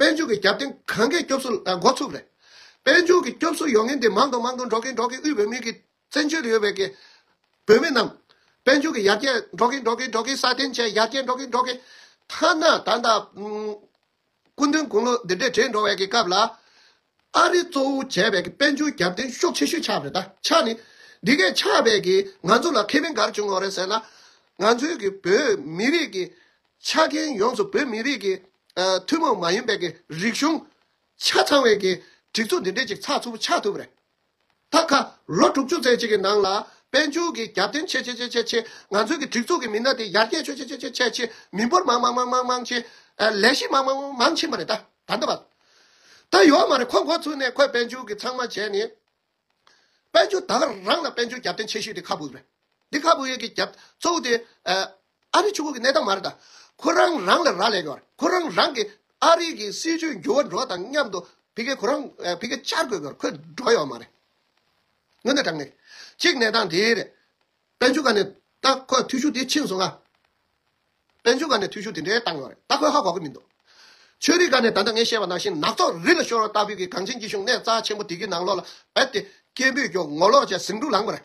དཔལ་འབྱོར་གྱི་རྒྱབ་རྟེན་གང་གཱའི་སྐྱོབ་གསོ་ལ་འགོ་ཚུགས་རེད། དཔལ་འབྱོར་གྱི་སྐྱོབ་གསོ་ཡོང་མཁན་དེ་མང་དུ་མང་དུ་འགྲོ་མཁན་འགྲོ་མཁན་དབུས་བོད་མིའི་གི་བཙན་བྱོལ་དུ་ཡོད་པའི་གི་བོད་མི་རྣམས། དཔལ་འབྱོར་གྱི་ཡར་རྒྱས་འགྲོ་མཁན་འགྲོ་མཁན་འགྲོ་མཁན་སྲ་བརྟན་བྱས་ཡར་རྒྱས་འགྲོ་མཁན་འགྲོ་མཁན། ཐ་ན་ད་ལྟ་སྐུ་མདུན་དགུང་ལོ་འདི་འདྲས་བགྲེས་འགྲོ་བའི་གི་སྐབས་ལ། ཨ་རི་གཙོ་བོ་བྱས་པའི་དཔལ་འབྱོར་རྒྱབ་རྟེན་ཤོག་ཆེ་ཤོས་ཆགས་རེད་ད་ཆ་ནི། འདི་གས་ཆགས་པས་ཀྱི་ང་ཚོ་ལ་ཁེ་ཕན་ག་རེ་བྱུང་འོ་རེད་ཟེར་ན། ང་ཚོའི་ཀྱི་བོད་མི་རིགས་ཀྱི་ཆ་རྐྱེན་ཡོངས་སུ་བོད་མི་རིགས་ཀྱི་ཐུན་མོང་མ་ཡིན་པའི་ཀྱི་རིག་གཞུང་ཆ་ཚང་བའི་ཀྱི་སྒྲིག་འཛུགས་འདི་འདྲས་ཅིག་ཚགས་ཚུད་པོ་ཆགས་ཐུབ་པ་རེད། ཐབས་ཁ། ལོ་དྲུག་ཅུ་ཙམ་ཞིག་གི་ནང་ལ། དཔལ་འབྱོར་གྱི་རྒྱབ་རྟེན་ཆེ་ཆེ་ཆེ་ཆེ་ཆེ། ང་ཚོའི་གི་སྒྲིག་འཛུགས་ཀྱི་མི་སྣ་དེ་ཡར་རྒྱས་ཆོད་ཆེ་ཆེ་ཆེ་ཆེ་ཆེ། མི་འབོར་མང་མང་མང་མང་མང་ཆེ། ལས་གཞི་མང་མང་མང་མང་ཕྱིན་པ་རེད་ད། ད་འདི་བ། ད་ཡོད་མ་རེད་ཁོ་འགོ་ཚུགས་ནས་ཁོས་དཔལ་འབྱོར་གྱི་ཚང་མ་བྱས་ནས། དཔལ་འབྱོར་ད་རང་ལ་དཔལ་འབྱོར་རྒྱབ་རྟེན་ཆེ་ཤོས་དེ་ཁ་བུ་ཡོད་རེད། འདི་ཁ་བུ་ཡོད་གི་རྒྱབ་གཙོ་བོ་དེ། ཨ་རི་ཆུ་ཁུག་གི་གནས་སྟངས་མ་རེད་ད། ཁོ་རང་རང་ལ་རག་ལས་གྱོར། ཁོ་རང་རང་གིས་ཨ་རི་གི་སྲིད་ཇུས་འགྱུར་བ་འགྲོ་བ་དང་མཉམ་དུ་བི་གེ་ཁོ་རང་བི་གེ་བཅར་དགོས་གྱོར་ཁོས་འགྲོ་ཡོང་བ་མ་རེད། དངོས་གནས་དྲང་གནས་གཅིག་གནས་སྟངས་དེ་རེད། དཔལ་འབྱོར་ཁ་ནས་ད་ཁོས་འཐུས་ཤུགས་དེ་ཕྱིན་སོང་ཨ། དཔལ་འབྱོར་ཁ་ནས་འཐུས་ཤུགས་དེ་འདྲའི་བཏང་ཡོད་རེད་ད་ཁོས་ཧ་གོ་གི་མི་འདུག། ཆོས་རིག་ཁ་ནས་ད་ལྟ་ངས་བཤད་པ་ནང་བཞིན་ནག་ཚོགས་རི་ལ་ཤོར་བ་ལྟ་བུའི་གི་གངས་ཅན་སྐྱིད་གཞུང་གནས་རྩ་ཆེན་པོ་དེ་གི་ནང་ལོགས་ལ་བབས་ཏེ་སྐད་འབོད་ཀྱོ་ངོ་ལོག་བྱས་ཟིང་འཁྲུག་ལངས་པ་རེད།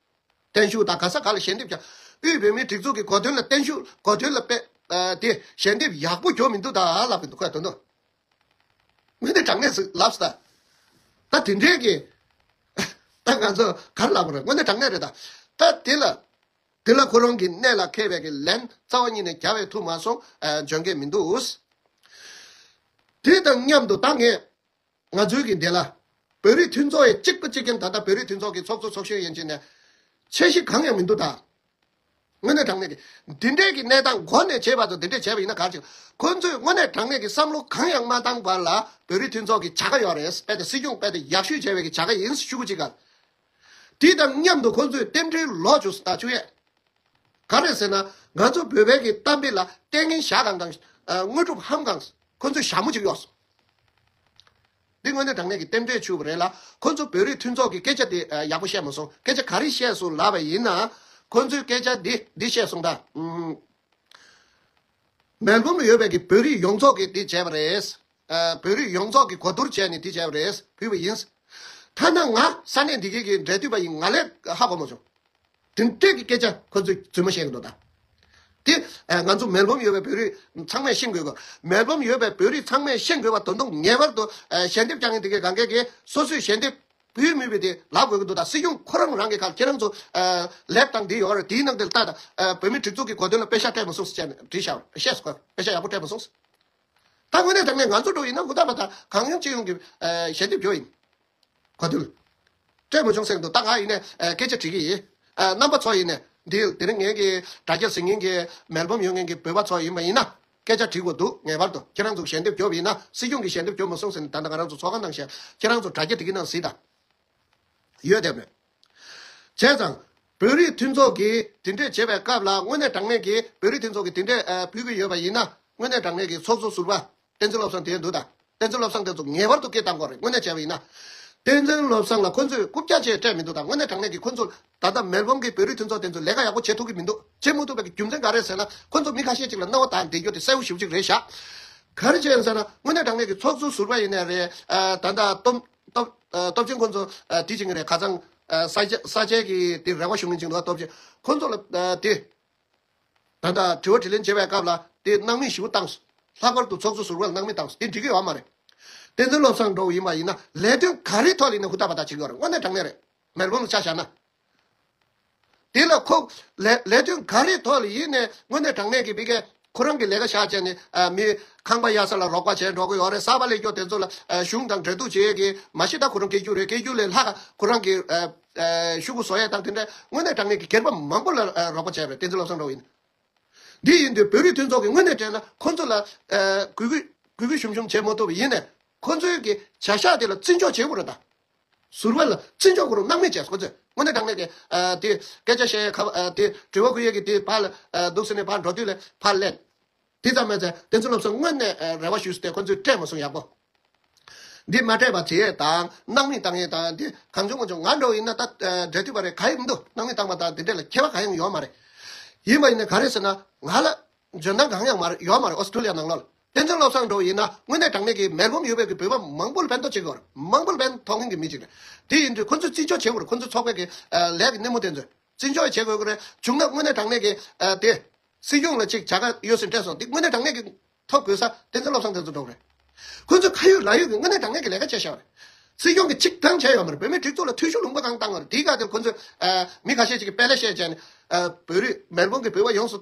བརྟན་བཞུགས་དང་ག་ས་ག་ལ་ཞལ་འདེབས་ཀྱང། དབུས་བོད་མིའི་སྒྲིག་འཛུགས་ཀྱི་གོ་དོན་ལ་བརྟན་བཞུགས་གོ་དོན་ལ་དཔེ་དེ་ཞལ་འདེབས་ཡག་པོ་གྱོ་མི་འདུག་ད་ལབ་པའི་འདུག་ཁོས་དོན་དུ་མི་དེ་དྲང་གནས་སུ་ལབ་སྲིད་ད། ད་དེ་འདྲའི་གི་ད་ང་ཚོ་གར་ལབ་པ་རེད་དངོས་གནས་དྲང་གནས་རེད་ད། ད་དེ་ལ་དེ་ལ་ཁོ་རང་གི་གནས་ལ་མཁས་པའི་གི་ལན་རྩ་བ་ཉིད་ནས་རྒྱ་བས་ཐུབ་མ་སོང་འཇོན་གི་མི་འདུག། དེ་དང་མཉམ་དུ་ད་ངས་ང་ཚོའི་གི་འདི་ལ། བོད་རིགས་མཐུན་ཚོགས་ཡི་གཅིག་པུ་གཅིག་མཁན་ད་ལྟ་བོད་རིགས་མཐུན་ཚོགས་ཀྱི་ཚོགས་གཙོ་ཚོགས་གཞོན་ཡིན་ཕྱིན་ནས། ཆེ་བཞི་གང་ཡང་མི་འདུག་ད། དངོས་གནས་དྲང་གནས་ཀྱི། འདི་འདྲས་ཀྱི་གནས་སྟངས་མགོ་ནས་བྱེད་པ་ཚོ་འདི་འདྲས་བྱས་པ་ཡིན་ན་ག་ཅིག། ཁོ་ཚོས་དངོས་གནས་དྲང་གནས་ཀྱི་བསམ་བློ་གང་ཡང་མ་བཏང་བར་ལ་བོད་རིགས་མཐུན་ཚོགས་ཀྱི་བྱ་དགའ་ཡོད་རེད་པས་ད་སྲིད་སྐྱོང་པས་ད་ཡག་ཤོས་བྱས་པའི་གི་བྱ་དགའ་ཡིན་ཤུ་གུ་ཅིག་ག། དེ་དང་མཉམ་དུ་ཁོང་ཚོས་རྟེན་འབྲེལ་ལོག་ཆོས་ཟླ་བཅུ་ཡས། ག་རེད་ཟེར་ན་ང་ཚོ་བོད་བན་གྱི་གཏམ་དཔེ་ལ་ལྟས་ངན་ཞག་གང་གང་དངོས་གྲུབ་ཧམ་གང་ཁོང་ཚོས་ཞྭ་མོ་གཅིག་གཡོགས་སོང། འདི་དངོས་གནས་དྲང་གནས་ཀྱི་རྟེན་འབྲེལ་ཆུ་བོ་རེད་ལ་ཁོང་ཚོ་བོད་རིགས་མཐུན་ཚོགས་ཀྱི་སྐད་ཆ་དེ་ཡག་པོ་བཤད་མ་སོང་སྐད་ཆ་ག་རེ་བཤད་སོང་ལབ་པ་ཡིན་ན། ཁོང་ཚོས་སྐད་ཆ་འདི་འདི་བཤད་སོང་ད། མོན་གྷོ་མི་ཡོད་པའི་གི་བོད་རིགས་ཡོངས་རྫོགས་ཀྱིས་དེ་བྱས་པ་རེད། བོད་རིགས་ཡོངས་རྫོགས་ཀྱིས་གོ་བསྡུར་བྱས་ནས་དེ་བྱས་པ་རེད་ཕུལ་བ་ཡིན། ཐ་ན་ང་ས་གནས་འདི་གའི་གི་འབྲེལ་མཐུད་པ་ཡིན་ང་ལས་ཧ་གོ་མ་བྱུང། དེ་འཕྲལ་གྱི་སྐད་ཆ་ཁོ་ཚོས་རྫུན་མ་བཤད་གི་འདུག་ད། དེ་ང་ཚོ་མོན་གྷོ་མི་ཡོད་པའི་བོད་རིགས་ཚང་མས་ཤེས་དགོས་གི་མོན་གྷོ་མི་ཡོད་པའི་བོད་རིགས་ཚང་མས་ཤེས་དགོས་པ་དོན་དུ་ངེས་པར་དུ་ཞལ་འདེབས་བསྐྱང་ངེས་འདི་གའི་གངས་སྐྱེས་ཀྱིས་སོ་སོས་ཞལ་འདེབས། བུའི་མིང་བུ་དེ་ལ་དགོས་ཀྱི་འདུག་ད་སྲིད་སྐྱོང་ཁོ་རང་རང་གི་ཁར་ཁྱེད་རང་ཚོ། ལེབ་དང་དེ་ཡོང་རེ་དེའི་ནང་དེ་ལ་ལྟ་ད། བོད་མི་སྒྲིག་འཛུགས་ཀྱི་གོ་དོན་ལ་དཔེ་ཤ་སྤྲད་མ་སོང་ཟེར་བྱས་ནས་བྲིས་ཤག་ཤེས་སོ། དཔེ་ཤ་ཡག་པོ་སྤྲད་མ་སོང། ད་དངོས་གནས་དྲང་གནས་ང་ཚོ་འགྲོ་ཡིན་ན་ཧུར་ཐག་པ་ད་གང་ཡོང་ཅི་ཡོང་གི་ཞལ་འདེབས་འཇོག་ཡིན། གོ་དོན་ལ་སྤྲད་མ་བྱུང་ཟེར་གི་འདུག་ད་ང་ཡིན་ནས་སྐད་ཆ་དྲིས་ཀྱི་ཡིན། རྣམ་པ་ཚོ་ཡིན་ནས། འདི་དེ་རིང་ངེད་ཀྱི་དྲ་རྒྱར་གཟིགས་ངེས་ཀྱི་མལ་འབམ་ཡོང་ངེས་ཀྱི་བོད་པ་ཚོ་ཡིན་པ་ཡིན་ན། སྐད་ཆ་དྲིས་འོ་འདུག་ངེས་པར་དུ་ཁྱེད་རང་ཚོ་ཞལ་འདེབས་རྒྱོབ་ཡིན་ན་སྲིད་སྐྱོང་གིས་ཞལ་འདེབས་རྒྱོབ་མ་སོང་ཟེར་ནས་ད་ལྟ་ང་རང་ཚོ་ཚོགས་ཁང་ནང་ཞལ་ཁྱེད་རང་ཚོ་དྲ་རྒྱ་དེ་གི་ནང་གཟིགས་དང། ཡོད་དེ་མེད། བྱས་ཙང། བོད་རིགས་མཐུན་ཚོགས་ཀྱིས་དེ་འདྲས་བྱེད་པའི་སྐབས་ལ་དངོས་གནས་དྲང་གནས་ཀྱིས་བོད་རིགས་མཐུན་ཚོགས་ཀྱིས་དེ་འདྲས་ཕུལ་གྱི་ཡོད་པ་ཡིན་ན་དངོས་གནས་དྲང་གནས་ཀྱིས་ཚོགས་གཙོ་ཟུར་པ་བསྟན་འཛིན་བློ་བཟང་དེའི་འདུག་དང། བསྟན་འཛིན་བློ་བཟང་དེ་ཚོ་ངེས་པར་དུ་སྐད་བཏང་དགོས་རེད་དངོས་གནས་བྱས་པ་ཡིན་ན། བསྟན་འཛིན་བློ་བཟང་ལ་ཁོ་ཚོས་རྐུབ་བཀྱག་བྱས་སྤྲད་མི་འདུག་ད་དངོས་གནས་དྲང་གནས་ཀྱི་ཁོ་ཚོས་ད་ལྟ་མེལ་སྦོམ་གྱི་བོད་རིགས་མཐུན་ཚོགས་དེ་ཚོས་ལས་ཀ་ཡག་པོ་བྱེད་ཐུབ་ཀྱི་མི་འདུག་བྱེད་མ་ཐུབ་པའི་རྒྱུ་མཚན་ག་རེད་ཟེར་ན་ཁོ་ཚོ་མི་ཁ་ཤས་ཅིག་ལ་རྣ་བ་དག་འདེད་རྒྱུ་དེ་གསལ་བོ་ཞིབ་ཅིག་རེད་ཤག། ག་རེ་བྱས་ཟེར་ན་དངོས་གནས་དྲང་གནས་ཀྱི་ཚོགས་གཙོ་ཟུར་པ་ཡིན་ནའི་རེད་ད། ད་ལྟ་སྟོབས་ཆེན་ཁོ་ཚོ་དེ་བྱེད་ཀྱི་རེད་ཁ་ཚང། ས་སྐྱའི་གི་དེ་རེ་བ་ཞུ་མཁན་ཅིག་འདུག་སྟོབས་ཆེན་ཁོ་ཚོ་ལ་དེ། ད་ལྟ་དྲི་བ་དྲི་ལན་བྱེད་པའི་སྐབས་ལ་དེ་སྣང་མེད་བཞི་པོ་བཏང། ལྷག་པར་དུ་ཚོགས་གཙོ་ཟུར་བ་ལ་སྣང་མེད་བཏང་དེ་འགྲིག་གི་ཡོད་མ་རེད། བསྟན་འཛིན་བློ་བཟང་འགྲོ་བ་ཡིན་པ་ཡིན་ན་ལས་དོན་ག་རེའི་ཐོག་ལས་ནས་ཧུར་ཐག་པ་ཐག་བྱེད་གི་ཡོད་རེད་དངོས་གནས་དྲང་གནས་རེད། མེར་བོང་ལ་ཆ་བཞག་ན། དེ་ལ་ཁོ། ལས་དོན་ག་རེའི་ཐོག་ལ་ཡིན་ནས་དངོས་གནས་དྲང་གནས་ཀྱི་དཔེ་གལ། ཁོ་རང་གི་ལས་ཀ་བཞག་བཅས་ནས་མི་ཁང་པ་གཡར་ས་ལ་རོགས་པ་བྱས་འགྲོ་གི་ཡོད་རེད་གསར་པ་ལས་སྐྱོར་དེ་ཚོ་ལ་གཞུང་དང་འབྲེལ་གཏུག་བྱེད་ཡས་ཀྱི་མ་གཞི་ད་ཁོ་རང་སྐྱེ་རྒྱུ་རེད་སྐྱེ་རྒྱུ་ལས་ལྷག་ཁོ་རང་གི་ཤུགས་བཟོ་ཡས་དང་དེ་འདྲ་དངོས་གནས་དྲང་གནས་ཀྱི་སྒེར་པ་མང་པོ་ལ་རོགས་པ་བྱས་པའི་བསྟན་འཛིན་བློ་བཟང་སྒྲོག་ཡིན། དེ་ཡིན་དུས་བོད་རིགས་མཐུན་ཚོགས་ཀྱི་དངོས་གནས་དྲན་ན་ཁོ་ཚོ་ལ་གུས་གུས་ཞུམ་ཞུམ་བྱེད་མ་ཐུབ་པ་ཡིན། ཁོ་ཚོའི་གྱི་བྱ་བཞག་དེ་ལ་བརྩི་འཇོག་བྱེད་དགོས་རེད་ད། ཟུར་བ་ལ་བརྩི་འཇོག་གོ་རུང་སྣང་མེད་བྱས་སོ་ཚོད་སྔོན་འདས་གྲངས་མེད་དེ། དེ། སྐད་ཆ་བཤད་ཁ་བ། དེ། དྲི་བ་ཁུར་ཡས་ཀྱི་དེ། ཕར། འདུག་ཟེར་ནས་ཕར་འགྲོ་དུས་ལས་ཕར་སླེབས། དེ་ཙམ་མེད་ཚེ་བསྟན་འཛིན་སློབ་གསོ་དངོས་གནས་རེ་བ་ཞུས་ཏེ་ཁོ་ཚོས་སྤྲད་མ་སོང་ཡག་པོ། འདི་མ་སྤྲད་པ་དེ་དང་སྣང་མེད་བཏང་ཡས་དང་དེ་གང་བྱུང་མ་བྱུང་ང་འགྲོ་ཡིན་ན་ད་འབྲལ་དུས་པ་རེད་ག་ཡི་འདུག་སྣང་མེད་བཏང་པ་དང་དེ་འབྲེལ་ལ་ཁྱད་པ་ག་ཡང་ཡོད་མ་རེད། ཡིན་པ་ཡིན་ན་ག་རེད་ཟེར་ན། ང་ལ། འཇོན་ཐང་གང་ཡང་མ་རེད་ཡོད་མ་རེད་ཨོ་སི་ཀྲུ་ལི་ཡ་ནང་ལོགས་ལ། བསྟན་འཛིན་བློ་བཟང་འགྲོ་བ་ཡིན་ན་དངོས་གནས་གྲངས་མེད་ཀྱི་མེར་བུམ་ཡུལ་བོད་ཀྱི་བོད་པ་མང་པོ་ལ་ཕན་ཐོགས་བྱེད་དགོས་པར་མང་པོ་ལ་ཕན་ཐོགས་མིན་གྱི་མི་ཞིག་རེད། དེ་ཡིན་དུས་ཁོ་ཚོས་བརྩི་འཇོག་བྱེད་དགོས་རེད་ཁོ་ཚོའི་ཚོགས་པའི་གི་ལས་ཀྱི་སྣེ་མོ་དེ་ཚོས་བརྩི་འཇོག་ཡང་བྱེད་དགོས་ཀྱི་རེད་བྱུང་ན་དངོས་གནས་གྲངས་མེད་ཀྱི་དེ། སྲིད་སྐྱོང་ལ་ཅིག་བྱ་དགའ་ཡོད་སྲིད་སྤྲད་སོང་དེ་དངོས་གནས་གྲངས་མེད་ཀྱི་ཐོབ་དགོས་ས་བསྟན་འཛིན་བློ་བཟང་དེ་ཚོ་འགྲོ་གི་རེད། ཁོ་ཚོས་ཁ་ཡོད་ལག་ཡོད་ཀྱི་དངོས་གནས་གྲངས་མེད་ཀྱི་ལས་ཀ་བྱས་ཤག་རེད། སྲིད་སྐྱོང་གི་ཅིག་ཐང་བྱས་ཡོད་མ་རེད་བོད་མིའི་སྒྲིག་འཛུགས་ལ་འཐུས་ཤོར་ལུང་པ་གང་བཏང་བ་རེད་དེའི་སྐབས་དེར་ཁོ་ཚོས་མི་ཁ་ཤས་ཅིག་གི་དཔལ་ལས་བཤད་བྱས་ནས་བོད་རིགས་མེར་བུམ་གྱི་བོད་པ་ཡོངས་སུ།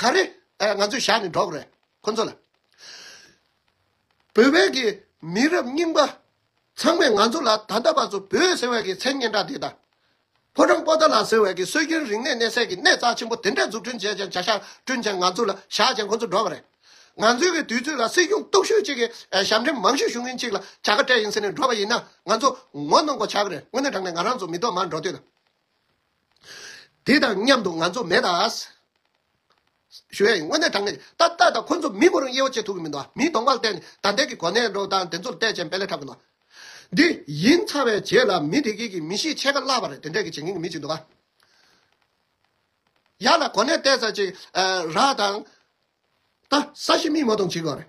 ག་རེ་ང་ཚོས་བཞག་ནས་འགྲོ་གི་རེད་ཁོ་ཚོ་ལ། བོད་པའི་གི་མི་རབས་རྙིང་པ་ཚང་མས་ང་ཚོ་ལ་ད་ལྟ་བར་དུ་བོད་ཟེར་བའི་གི་མཚན་སྙན་གྲགས་འདི་དང། ཕོ་བྲང་པོ་ཏཱ་ལ་ཟེར་བའི་གི་སྲོལ་རྒྱུན་རིག་གནས་གནས་སའི་གི་གནས་རྩ་ཆེན་པོ་དེ་འདྲ་འཛུགས་སྐྲུན་བྱས་ཅིང་བྱ་གཞག་བསྐྲུན་ཅིང་ང་ཚོ་ལ་བཞག་ཅིང་ཁོ་ཚོ་འགྲོ་གི་རེད། ང་ཚོའི་གི་དུས་ཚོད་ལ་སྲིད་སྐྱོང་སྟོབས་ཤུགས་གཅིག་གིས་ཞབས་འདྲེན་མང་ཤོས་ཞུ་མཁན་གཅིག་ལ་བྱ་དགའ་སྤྲད་ཡིན་ཟེར་ནས་འགྲོ་བ་ཡིན་ན་ང་ཚོ་ངོ་གནོང་གོ་བྱ་གི་རེད་དངོས་གནས་དྲང་ནས་ང་རང་ཚོ་མི་གཏོགས་མར་འགྲོ་དུས་དང། དེ་དང་མཉམ་དུ་ང་ཚོ་མེད་ད། ཞུ་ཡ་ཡིན་དངོས་གནས་དྲང་གནས་ཡིན། ད་ལྟ་ཁོ་ཚོ་མི་མོ་རང་དབྱེ་བ་འབྱེད་ཐུབ་ཀྱི་མི་འདུག་མིའི་གདོང་པར་བལྟས་ནས་ད་ལྟའི་གི་གོ་གནས་འགྲོ་སྟངས་དེ་ཚོར་བལྟས་ཅན་དཔེ་ལས་འཁྲབ་གི་འདུག། འདི་ཡིན་ཚ་བའི་རྗེས་ལ་མི་དེ་གིས་གི་མི་གཤིས་ཆད་ཀ་བརླག་པ་རེད་དེ་འདྲས་གི་བྱེད་མཁན་གི་མི་ཅིག་འདུག། ཡག་ལ་གོ་གནས་བལྟས་ཚར་ཅིག་ར་དང། ད་ས་གཞི་མིས་མོ་གཏོང་བྱེད་དགོས་རེད།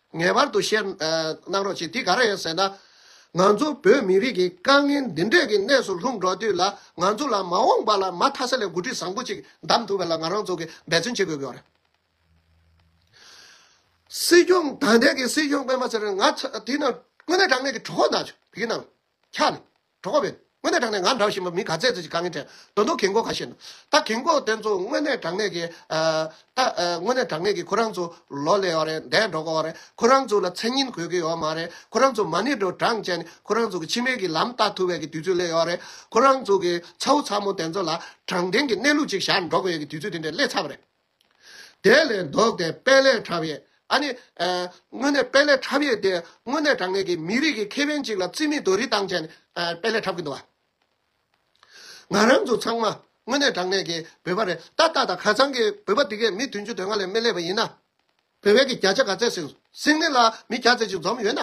ངེས་པར་དུ་བཤད་གནང་རོགས་གྱིས་དེ་ག་རེ་ཡིན་ཟེར་ན། ང་ཚོ་བོད་མི་རིགས་ཀྱི་དཀའ་ངལ་འདི་འདྲས་ཀྱི་གནས་སུ་ལྷུང་འགྲོ་དུས་ལ་ང་ཚོ་ལ་མ་འོངས་པ་ལ་མ་མཐའ་ས་ལས་འགོ་ཁྲིད་བཟང་པོ་གཅིག་གདམ་ཐུབ་པའི་ལ་ང་རང་ཚོ་གིས་འབད་བརྩོན་བྱེད་དགོས་ཀྱི་ཡོད་རེད། སྲིད་སྐྱོང་ད་ལྟའི་གི་སྲིད་སྐྱོང་དཔོན་པ་ཚེ་རིང་ང་ཚ་དེ་ན་དངོས་གནས་དྲང་གནས་ཀྱི་གྲོགས་ན་ཆུ་བི་གི་ནང་འཁྱག་ནས་གྲོགས་པོ། དངོས་གནས་དྲང་གནས་ང་འདྲ་བཞིན་པ་མི་ག་ཚད་ཚོད་ཀྱིས་དཀའ་ངལ་དྲན་འདུག་གལ་འགོ་ག་ཞེ་ན། ད་གལ་འགོ་དེ་ཚོ་དངོས་གནས་དྲང་གནས་ཀྱི། ད་དངོས་གནས་དྲང་གནས་ཀྱི་ཁོ་རང་ཚོ་ལོ་ལེགས་བ་རེད་འདས་འགྲོ་གི་བ་རེད་ཁོ་རང་ཚོ་ལ་མཚན་སྙིང་གོ་གི་ཡོད་མ་རེད་ཁོ་རང་ཚོ་མ་ཎི་དྲོ་གྲང་བྱས་ནས་ཁོ་རང་ཚོ་གི་ཕྱི་མའི་གི་ལམ་བལྟ་ཐུབ་བས་གི་དུས་ཚོད་སླེ་ཡོད་རེད་ཁོ་རང་ཚོ་གི་ཚ་བོ་ཚ་མོ་དེ་ཚོ་ལ་དྲང་བདེན་གྱི་གནས་ལུགས་ཅིག་བཞག་འགྲོ་གི་ཡོད་གི་དུས་ཚོད་དེ་འདྲས་སླེ་ཚར་བ་རེད། དེ་ལས་ལྡོག་སྟེ་དཔལ་ལས་ཕྲ་བའི། དངོས་གནས་དཔལ་ལས་ཕྲ་བའི་དེ་དངོས་གནས་དྲང་གནས་ཀྱི་མི་རིགས་ཀྱི་ཁེ་ཕན་ཅིག་ལ་རྩིས་མེད་དུ་རི་ཐང་ཅན་དཔལ་ལས་ཕྲ་གི་འདུག་བ། ང་རང་ཚོ་ཚང་མ་དངོས་གནས་དྲང་གནས་ཀྱི་བོད་པ་རེད་ད་ལྟ་དང་ཁ་ཚང་གི་བོད་པ་འདི་གས་མི་བདུན་ཅུ་དོན་ལྔ་ལས་མི་ལས་པ་ཡིན་ན། བོད་པའི་གི་བརྒྱ་ཆ་ག་ཚད་སིང་སིང་ནི་ལ་མི་བརྒྱ་ཚད་ཅིག་འཛོམས་ཡོད་ན།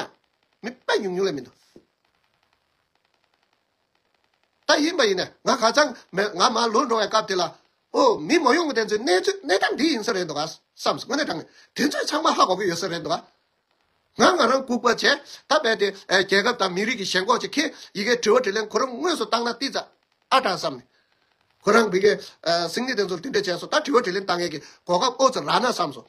མི་དཔལ་ཉུང་ཉུང་ལས་མི་འདུག། ལྟ་ཡིན་པ་ཡིན་ནས་ང་ཧ་ཅང་མེད་ང་མ་ལུས་འགྲོ་བའི་སྐབས་དེ་ལ། ཨོ་མི་མ་ཡུམ་དེ་ཚོའི་གནས་ཚུལ་གནས་སྟངས་འདི་ཡིན་ས་རེད་འདུག་བསམ་སོང་ངས་དྲང་ནས་དེ་ཚོས་ཚང་མ་ཧ་གོ་གི་ཡོད་ས་རེད་འདུག་ང་ང་རང་ལྐུགས་པ་བྱས་ད་རྦད་དེ་རྒྱལ་ཁབ་དང་མི་རིགས་ཀྱི་ཞེན་ཁོག་ཅིག་གིས་ཡི་གེ་དྲི་བ་དྲི་ལན་ཁོ་རང་དངོས་སུ་བཏང་ན་ཏིས་ཙཱ་ཨ་དྲག་བསམ་ནས། ཁོ་རང་བི་གའི་སིང་ནི་དེ་ཚོར་དེ་འདྲས་བྱས་སོང་ད་དྲི་བ་དྲི་ལན་བཏང་མཁན་གྱི་གོ་སྐབས་ཨོ་ཙི་ར་ན་བསམ་སོང།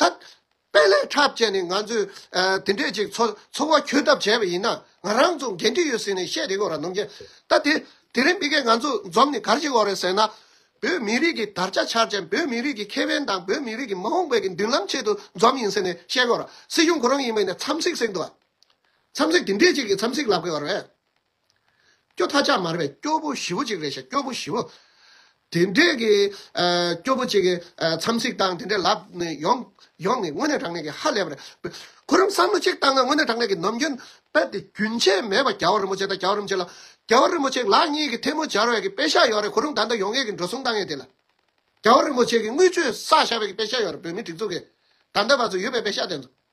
ད། དཔལ་ལས་འཁྲབ་བཅས་ནས་ང་ཚོས་དེ་འདྲས་ཅིག་འཚོ་བ་འཁྱོལ་ཐབས་བྱས་པ་ཡིན་ན། ང་རང་ཚོ་འགན་འཁྲི་ཡོད་ཟེར་ནས་བཤད་དེ་གོ་ར་ནོར་མཁན་ད། དེ་རིང་མི་སྐད་ང་ཚོ་འཛོམས་ནས་ག་རེ་བྱེད་འོང་རེད་ཟེར་ན། བོད་མི་རིགས་ཀྱི་དར་ཆ་འཕྱར་ཅན་བོད་མི་རིགས་ཀྱི་ཁེ་ཕན་དང་བོད་མི་རིགས་ཀྱི་མ་འོངས་པའི་གི་མདུན་ལམ་ཆེད་དུ་འཛོམས་ཡིན་ཟེར་ནས་བཤད་གོ་ར། སྲིད་གཞུང་ཁོ་རང་ཡིན་པས་ནས་འཚམས་གཟིགས་གཟིགས་འདུག་ཨ། འཚམས་གཟིགས་དེ་འདྲས་ཅིག་གི་འཚམས་གཟིགས་ལབ་དགོས་པ་རེད། སྐྱོ་ཐ་ཆག་མར་བའི་སྐྱོ་བོ་བཞི་བོ་ཅིག་རེད་བཤད་སྐྱོ་བོ་བཞི་བོ། དེ་འདྲས་ཀྱི་སྐྱོ་བོ་ཅིག་འཚམས་གཟིགས་བཏང་དེ་འདྲས་ལབ་ནས་ཡོང་ཡོང་ནས་དངོས་གནས་དྲང་གནས་ཀྱི་ཧ་ལས་པ་རེད། ཁོ་རང་བསམ་བློ་གཅིག་བཏང་ན་དངོས་གནས་དྲང་གནས་ཀྱི་ནམ་རྒྱུན་དཔེ་དེ་རྒྱུན་ཆད་མེད་པ་རྒྱ་བོ་རིན་པོ་ཆེ་དང་རྒྱ་བོ་རིན་པོ་ཆེ་ལགས་རྒྱ་བོ་རིན་པོ་ཆེ་ལགས་གཉིས་ཀྱི་ཐལ་མོ་སྦྱར་བའི་ཀྱི་དཔེ་ཤ་ཡོད་རེད་ཁོ་རང་ད་ལྟ་ཡོང་ཡས་ཀྱི་འགྲོ་སོང་བཏང་ཡས་དེ་ལ་རྒྱ་བོ་རིན་པོ་ཆེ་གྱི་དངུལ་ཆུའི་ས་ཤར་བའི་ཀྱི་དཔེ་ཤ་ཡོད་རེད་བོད་མི་སྒྲིག་འཛུགས་ཀྱི་ད་ལྟ་བར་ཚོ་ཡོད་པའི་དཔེ་ཤ་དེ་ཚོ།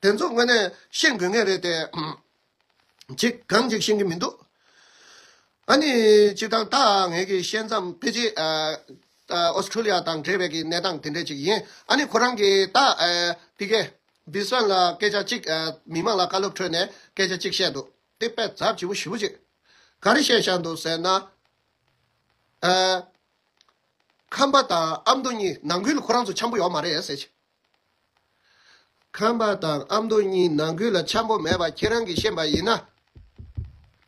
དེ་ཚོ་དངོས་གནས་ཤེས་དགོས་ངེས་རེད་དེ། ཅིག་གང་ཅིག་ཤེས་ཀྱི་མི་འདུག། ཨ་ནི་ཅིག་དང་ད་ངས་ཀྱི་ཤེས་མཚམས་ཕི་ཇི། Australia། དང་འབྲེལ་བའི་ཀྱི་གནས་སྟངས་དེ་འདྲས་ཅིག་ཡིན། ཨ་ནི་ཁོ་རང་གི་ད། Piggy། Biswan། ལ་སྐད་ཆ་ཅིག་མི་མང་ལ་བཀའ་སློབ་ཁྲོད་ནས་སྐད་ཆ་ཅིག་བཤད་འདུག་དེ་དཔེ་རྫབ་བྱིས་པོ་བཞི་བོ་ཅིག་ག་རེ་བཤད་བཞག་འདུག་ཟེར་ན། ཁམས་པ་དང་ཨ་མདོ་གཉིས་ནང་ཁུལ་ཁོ་རང་ཚོ་འཆམ་པོ་ཡོག་མ་རེད་ཟེར། ཁམས་པ་དང་ཨ་མདོ་གཉིས་ནང་ཁུལ་ལ་འཆམ་པོ་མེད་པ་ཁྱེད་རང་གིས་ཤེས་པ་ཡིན་ན།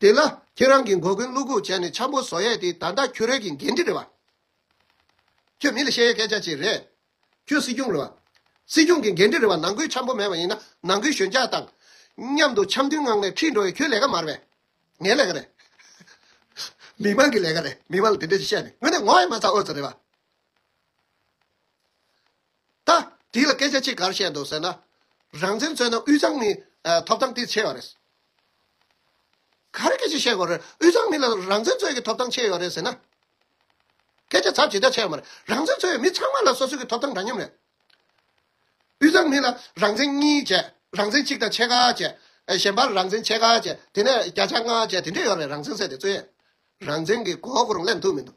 དེ་ལ་ཁྱེད་རང་གིས་མགོ་རྒོན་བླུག་ཁུག་བྱས་ནས་འཆམ་པོ་བཟོ་ཡས་དེ་ད་ལྟ་ཁྱོད་རས་ཀྱི་འགན་འཁྲི་རེད་བ། ཁྱོད་མི་ལ་བཤད་ཡས་སྐད་ཆ་ཅིག་རེད། ཁྱོད་སྲིད་སྐྱོང་རེད་བ། སྲིད་སྐྱོང་གི་འགན་འཁྲི་རེད་བ་ནང་ཁུལ་འཆམ་པོ་མེད་པ་ཡིན་ན་ནང་ཁུལ་གཞོན་སྐྱག་དང། མཉམ་དུ་འཆམ་མཐུན་ངང་ནས་འཁྲིད་འགྲོ་ཡས་ཁྱོད་ལས་ཀ་མ་རེད་བས། ངའི་ལས་ཀ་རེད། མི་དམངས་ཀྱི་ལས་ཀ་རེད་མི་དམངས་ལ་དེ་འདྲ་ཞིག་བཤད་ནས་ངོ་ནས་ངོ་ཡས་མ་ཚ་ཨོ་ཚ་རེད་བ། ད། དེ་ལ་སྐད་ཆ་གཅིག་གར་བཤད་འདོད་ཟེར་ན། རང་བཙན་རྩོད་ན་དབུས་གཙང་མི་ཐོབ་ཐང་དེ་ཆེ་བ་རེད། ག་རེ་སྐད་ཆ་བཤད་དགོས་རེད་དབུས་གཙང་མི་ལ་རང་བཙན་རྩོད་ཀྱི་ཐོབ་ཐང་ཆེ་ཡོད་རེད་ཟེར་ན། སྐད་ཆ་ཚབ་ཇི་ལྟར་ཆེ་བ་མ་རེད་རང་བཙན་རྩོད་ཡོད་མི་ཚང་མ་ལ་སོ་སོ་གི་ཐོབ་ཐང་འདྲ་མཉམ་རེད། དབུས་གཙང་མི་ལ་རང་བཙན་གཉིས་བྱས་རང་བཙན་གཅིག་དང་ཕྱེད་ཀ་བྱས། གཞན་པར་རང་བཙན་ཕྱེད་ཀ་བྱས་དེ་ནས་བརྒྱ་ཆ་ལྔ་བྱས་དེ་འདྲས་ཡོད་རེད་རང་བཙན་ཟེར་དེ་རྩོད་ཡས་རང་བཙན་གི་གོ་བ་གོ་རུང་ལེན་ཐུབ་མི་འདུག།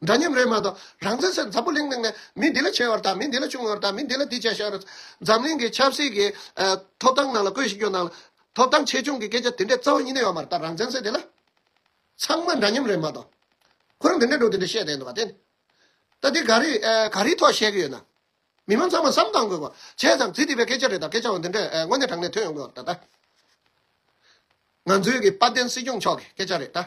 འདྲ་མཉམ་རེད་མ་གཏོགས་རང་བཙན་ཟེར་འཛམ་བུ་གླིང་ནང་ནས་མི་འདི་ལ་ཆེ་བར་དང་མི་འདི་ལ་ཆུང་བར་དང་མི་འདི་ལ་འདི་བྱས་ཤོག་རེད་འཛམ་གླིང་གི་ཆབ་སྲིད་ཀྱི་ཐོབ་ཐང་ནང་ལ་བཀོད་ཤིག་ཀྱོ་ནང་ལ་ཐོབ་ཐང་ཆེ་ཆུང་གི་སྐད་ཆ་དེ་འདྲས་རྩ་བ་ཉིད་ནས་ཡོད་མ་རེད་ད་རང་བཙན་ཟེར་དེ་ལ་ཚང་མ་འདྲ་མཉམ་རེད་མ་གཏོགས་ཁོ་རང་དེ་འདྲས་འགྲོ་དེ་འདྲས་བཤད་བསྡད་འདུག་པ་དེ་ནི་ད་དེ་ག་རེ་ག་རེའི་ཐོག་བཤད་གི་ཡོད་ན་མི་མང་ཚང་མ་བསམ་གཏང་དགོས་པ་བྱས་ཙང་ཛི་ཏི་པའི་སྐད་ཆ་རེད་ད་སྐད་ཆའང་དེ་འདྲས་དངོས་གནས་དྲང་གནས་ཐོན་ཡོང་དགོས་པ་རེད་ད། ང་ཚོའི་གི་དཔལ་ལྡན་སྲིད་སྐྱོང་མཆོག་གི་སྐད་ཆ་རེད་ད།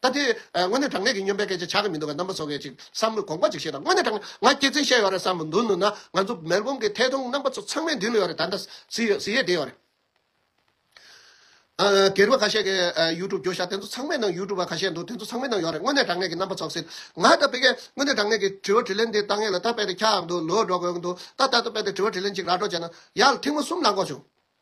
ད་དེ། དངོས་གནས་དྲང་གནས་ཀྱི་སྨྱོན་པའི་སྐད་ཆ་བྱ་གི་མི་འདུག་ག་རྣམ་པ་ཚོ་གས་ཅིག་བསམ་མོད་དགོངས་པ་ཅིག་བཞེས་དང་དངོས་གནས་དྲང། ང་སྐྱེ་ཚེ་བཤད་ཡོད་རེད་བསམ་མོད་མདུན་ནུས་ན་ང་ཚོ་མེར་སྒོང་གི་ཐད་གཏོང་རྣམ་པ་ཚོ་ཚང་མའི་མདུན་ལོས་ཡོད་རེད་ད་ལྟ་བཟི་ཡོད་བཟི་ཡོད་བསྡད་ཡོད་རེད། གྱེར་བ་ཁ་ཤས་ཀྱི་ཡུ་ཀྲུབ་བརྒྱུད་བཞག་དེ་ཚོ་ཚང་མའི་ནང་ཡུ་ཀྲུབ་བ་ཁ་ཤས་འདུག་དེ་ཚོ་ཚང་མའི་ནང་ཡོད་རེད་དངོས་གནས་དྲང་གནས་ཀྱི་རྣམ་པ་ཚོགས་ཟེར། ང་ད་དཔེ་གལ་དངོས་གནས་དྲང་གནས་ཀྱི་དྲི་བ་དྲི་ལན་འདི་ལྟ་ངེས་ལ་ད་དཔེ་དེ་ཁྱག་འདུག་ལོས་འགྲོ་དགོས་ཀྱི་འདུག་ད་ལྟ་ད་དཔེ་དེ་དྲི་བ་དྲི་ལན་ཅིག་ར་སྒྲོག་བྱས་ན་ཡག་ལ་ཐེངས་མ་གསུམ་ལ་འགོག་བྱུང།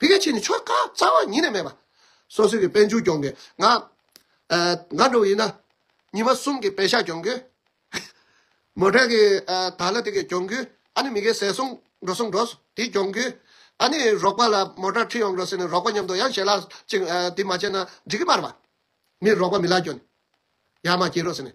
དེ་ག་ཕྱིར་ནི་ཆོ་ག་རྩ་བ་ཉིད་ནས་མེད་པ། སོ་སོའི་གི་དཔལ་འཇུག་སྐྱོང་གི་ང། ང་འགྲོ་བ་ཡིན་ན། ཉི་མ་གསུམ་གི་བེ་ཤ་སྐྱོང་གི། མོ་དྲེག་གི་དག་ལ་དེ་གི་སྐྱོང་གི། ཨ་ནི་མི་གའི་ཟས་སོང་འགྲོ་སོང་འགྲོ། དེ་སྐྱོང་གི། ཨ་ནི་རོག་པ་ལ་མོ་དྲག་ཁྲི་ཡོང་འགྲོ་ཟེར་ནས་རོག་པ་མཉམ་དུ་ཡང་ཞལ་ལག་ཅིག་དེ་མ་བྱས་ན་འགྲིག་གི་མ་རེད་པ། མི་རོག་པ་མི་ལ་སྐྱོན། ཡར་མ་སྐྱེལ་རོག་ཟེར་ནས།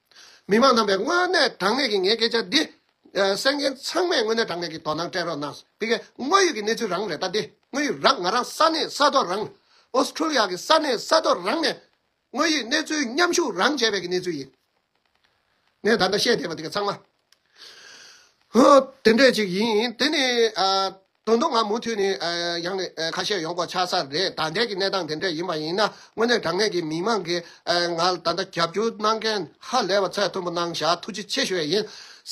མི་མང་རྣམས་པས་དངོས་གནས་དྲང་གནས་ཀྱི་ངའི་སྐད་ཆ་འདི། སེམས་མཁན་ཚང་མས་དངོས་གནས་དྲང་གནས་ཀྱི་དོ་སྣང་སྤྲད་རོགས་གནང། དེ་གའི་དངོས་ཡོད་ཀྱི་གནས་ཚུལ་རང་རེད་ད་དེ་དངོས་ཡོད་རང་ང་རང་ས་གནས་ས་ཐོག་རང། Australia། གི་ས་གནས་ས་ཐོག་རང་ནས། དངོས་ཡོད་གནས་ཚུལ་མཉམ་ཞུགས་རང་བྱས་པའི་གི་གནས་ཚུལ་ཡིན། ངས་ད་ལྟ་བཤད་བསྡད་པ་དེ་ག་ཚང་མ། དེ་འདྲས་ཅིག་ཡིན། དེ་ནི། དོན་དུ་ང་མུ་མཐུད་ནས་ཡང་ནས་ཁ་ཤས་ཡོང་དགོས་ཆགས་ས་རེད་ད་ལྟའི་གི་གནས་སྟངས་དེ་འདྲས་ཡིན་པ་ཡིན་ན་དངོས་གནས་དྲང་གནས་ཀྱི་མི་མང་གིས་ང་ལ་ད་ལྟ་རྒྱབ་སྐྱོར་གནང་མཁན་ཧ་ལས་པ་ཚད་མཐོན་པོ་གནང་བཞག་ཐུགས་རྗེ་ཆེ་ཞུ་བས་ཡིན།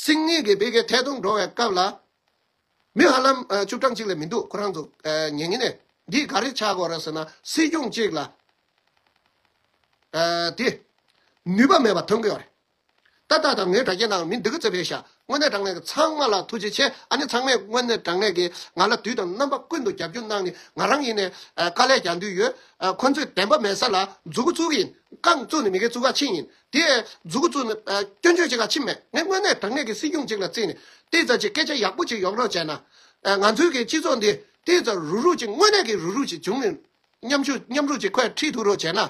སིང་གཉིས་ཀྱི་སྤེལ་ཁའི་ཐད་གཏོང་འགྲོ་བའི་སྐབས་ལ། མི་ཧ་ལམ་བཅུ་གྲངས་གཅིག་ལས་མི་འདུག་ཁོ་རང་ཚོ་ཉེ་ཉེ་ནས་འདིས་ག་རེ་ཆགས་དགོས་རེད་ཟེར་ན་སྲིད་སྐྱོང་གཅིག་ལ་དེ་ནུས་པ་མེད་པ་མཐོང་གི་ཡོད་རེད། ཏག་ཏག་དང་ངའི་དྲ་རྒྱའི་ནང་མི་འདི་ག་བཙལ་བས་ཤ། དངོས་གནས་དྲ་ངད་ཀྱི་ཚང་མ་ལ་ཐུགས་རྗེ་ཆེ་ཨ་ནི་ཚང་མས་དངོས་གནས་དྲ་ངད་ཀྱིས་ང་ལ་དུས་དང་རྣམ་པ་ཀུན་ཏུ་རྒྱབ་སྐྱོར་གནང་ནི་ང་རང་ཡིན་ནས་དཀའ་ལས་རྒྱག་འདུན་ཡོད། ཁོ་ཚོས་བདེན་པ་མེད་ས་ལ་མཛུ་གུ་བཙུག་གི་ཡིན། རྐང་བཙུག་ནི་མི་གའི་བཙུག་ཁ་ཕྱིན་ཡིན། དེ་མཛུ་གུ་བཙུག་ནི་སྐྱོན་བརྗོད་བྱེད་ཁ་ཕྱིན་མེད། ངས་དངོས་གནས་དྲ་ངད་ཀྱི་སྲིད་སྐྱོང་ཅིག་ལ་བརྩིས་ནས་ཏི་ཙ་ཅིག་སྐད་ཆ་ཡག་པོ་ཅིག་ཡོག་རོགས་བྱས་ན། ང་ཚོའི་གི་སྤྱི་ཚོགས་འདི་ཏི་ཙ་རུག་རུག་ཅིག་དངོས་གནས་ཀྱི་རུག་རུག་ཅིག་བྱུང་ནས་མཉམ་ཞུགས་མཉམ་རུག་ཅིག་ཁོས་ཁྲིད་ཐུག་རོགས་བྱས་ན།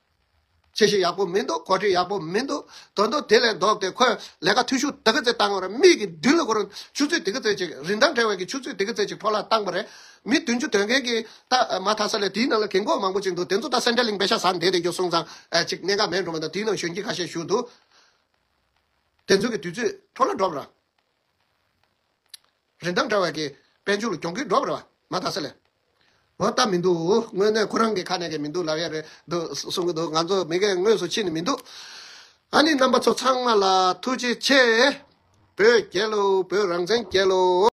ཆེ་ཞིག་ཡག་པོ་མི་འདུག་གོ་སྒྲིག་ཡག་པོ་མི་འདུག་དོན་དུ་དེ་ལས་ལྡོག་སྟེ་ཁོས་ལས་ཀ་འཐུས་ཤོར་དེ་ག་ཚེད་བཏང་བ་རེད་མིག་གི་མདུན་ལ་ཁོར་ཆུ་ཚོད་དེ་ག་ཚེད་ཅིག་རིན་ཐང་བྲལ་བའི་གི་ཆུ་ཚོད་དེ་ག་ཚེད་ཅིག་ཕོ་ལ་བཏང་བ་རེད། མི་བདུན་ཅུ་དོན་གན་གི་ད་མ་ཐག་ས་ལས་དེའི་ནང་ལ་གན་གོག་མང་པོ་ཅིག་འདུག་དེ་ཚོ་ད་སེན་ཏྲེ་ལིང་པའི་ཤ་ཟ་འདེད་དེ་རྒྱུ་སོང་ཙང་ཅིག་གནད་འགག་མེད་འགྲོ་མ་མདོག་དེའི་ནང་གཞོན་སྐྱེས་ཁ་ཤས་བཞུགས་འདུག་དེ་ཚོ་གི་དུས་ཚོད་འཕྲོ་ལ་འགྲོ་བ་ར། རིན་ཐང་འདྲ་བ་གི་དཔལ་འབྱོར་གྱོང་གུད་སྒྲོག་རེ་བ་མ་ད་ས་ལས་འོ་ད་མི་འདུག་དངོས་གནས་ཁོ་རང་གི་ཁ་ནས་གི་མི་འདུག་ལབ་ཡ་རེད་འདུག་གསུང་གི་འདུག་ང་ཚོ་མི་རྒན་དངོས་སུ་ཕྱི་ནས་མི་འདུག་ཨ་ནི་རྣམ་པ་ཚོ་ཚང་མ་ལ་ཐུགས་རྗེ་ཆེ། བོད་རྒྱལ་ལོ་བོད་རང་བཙན་རྒྱལ་ལོ།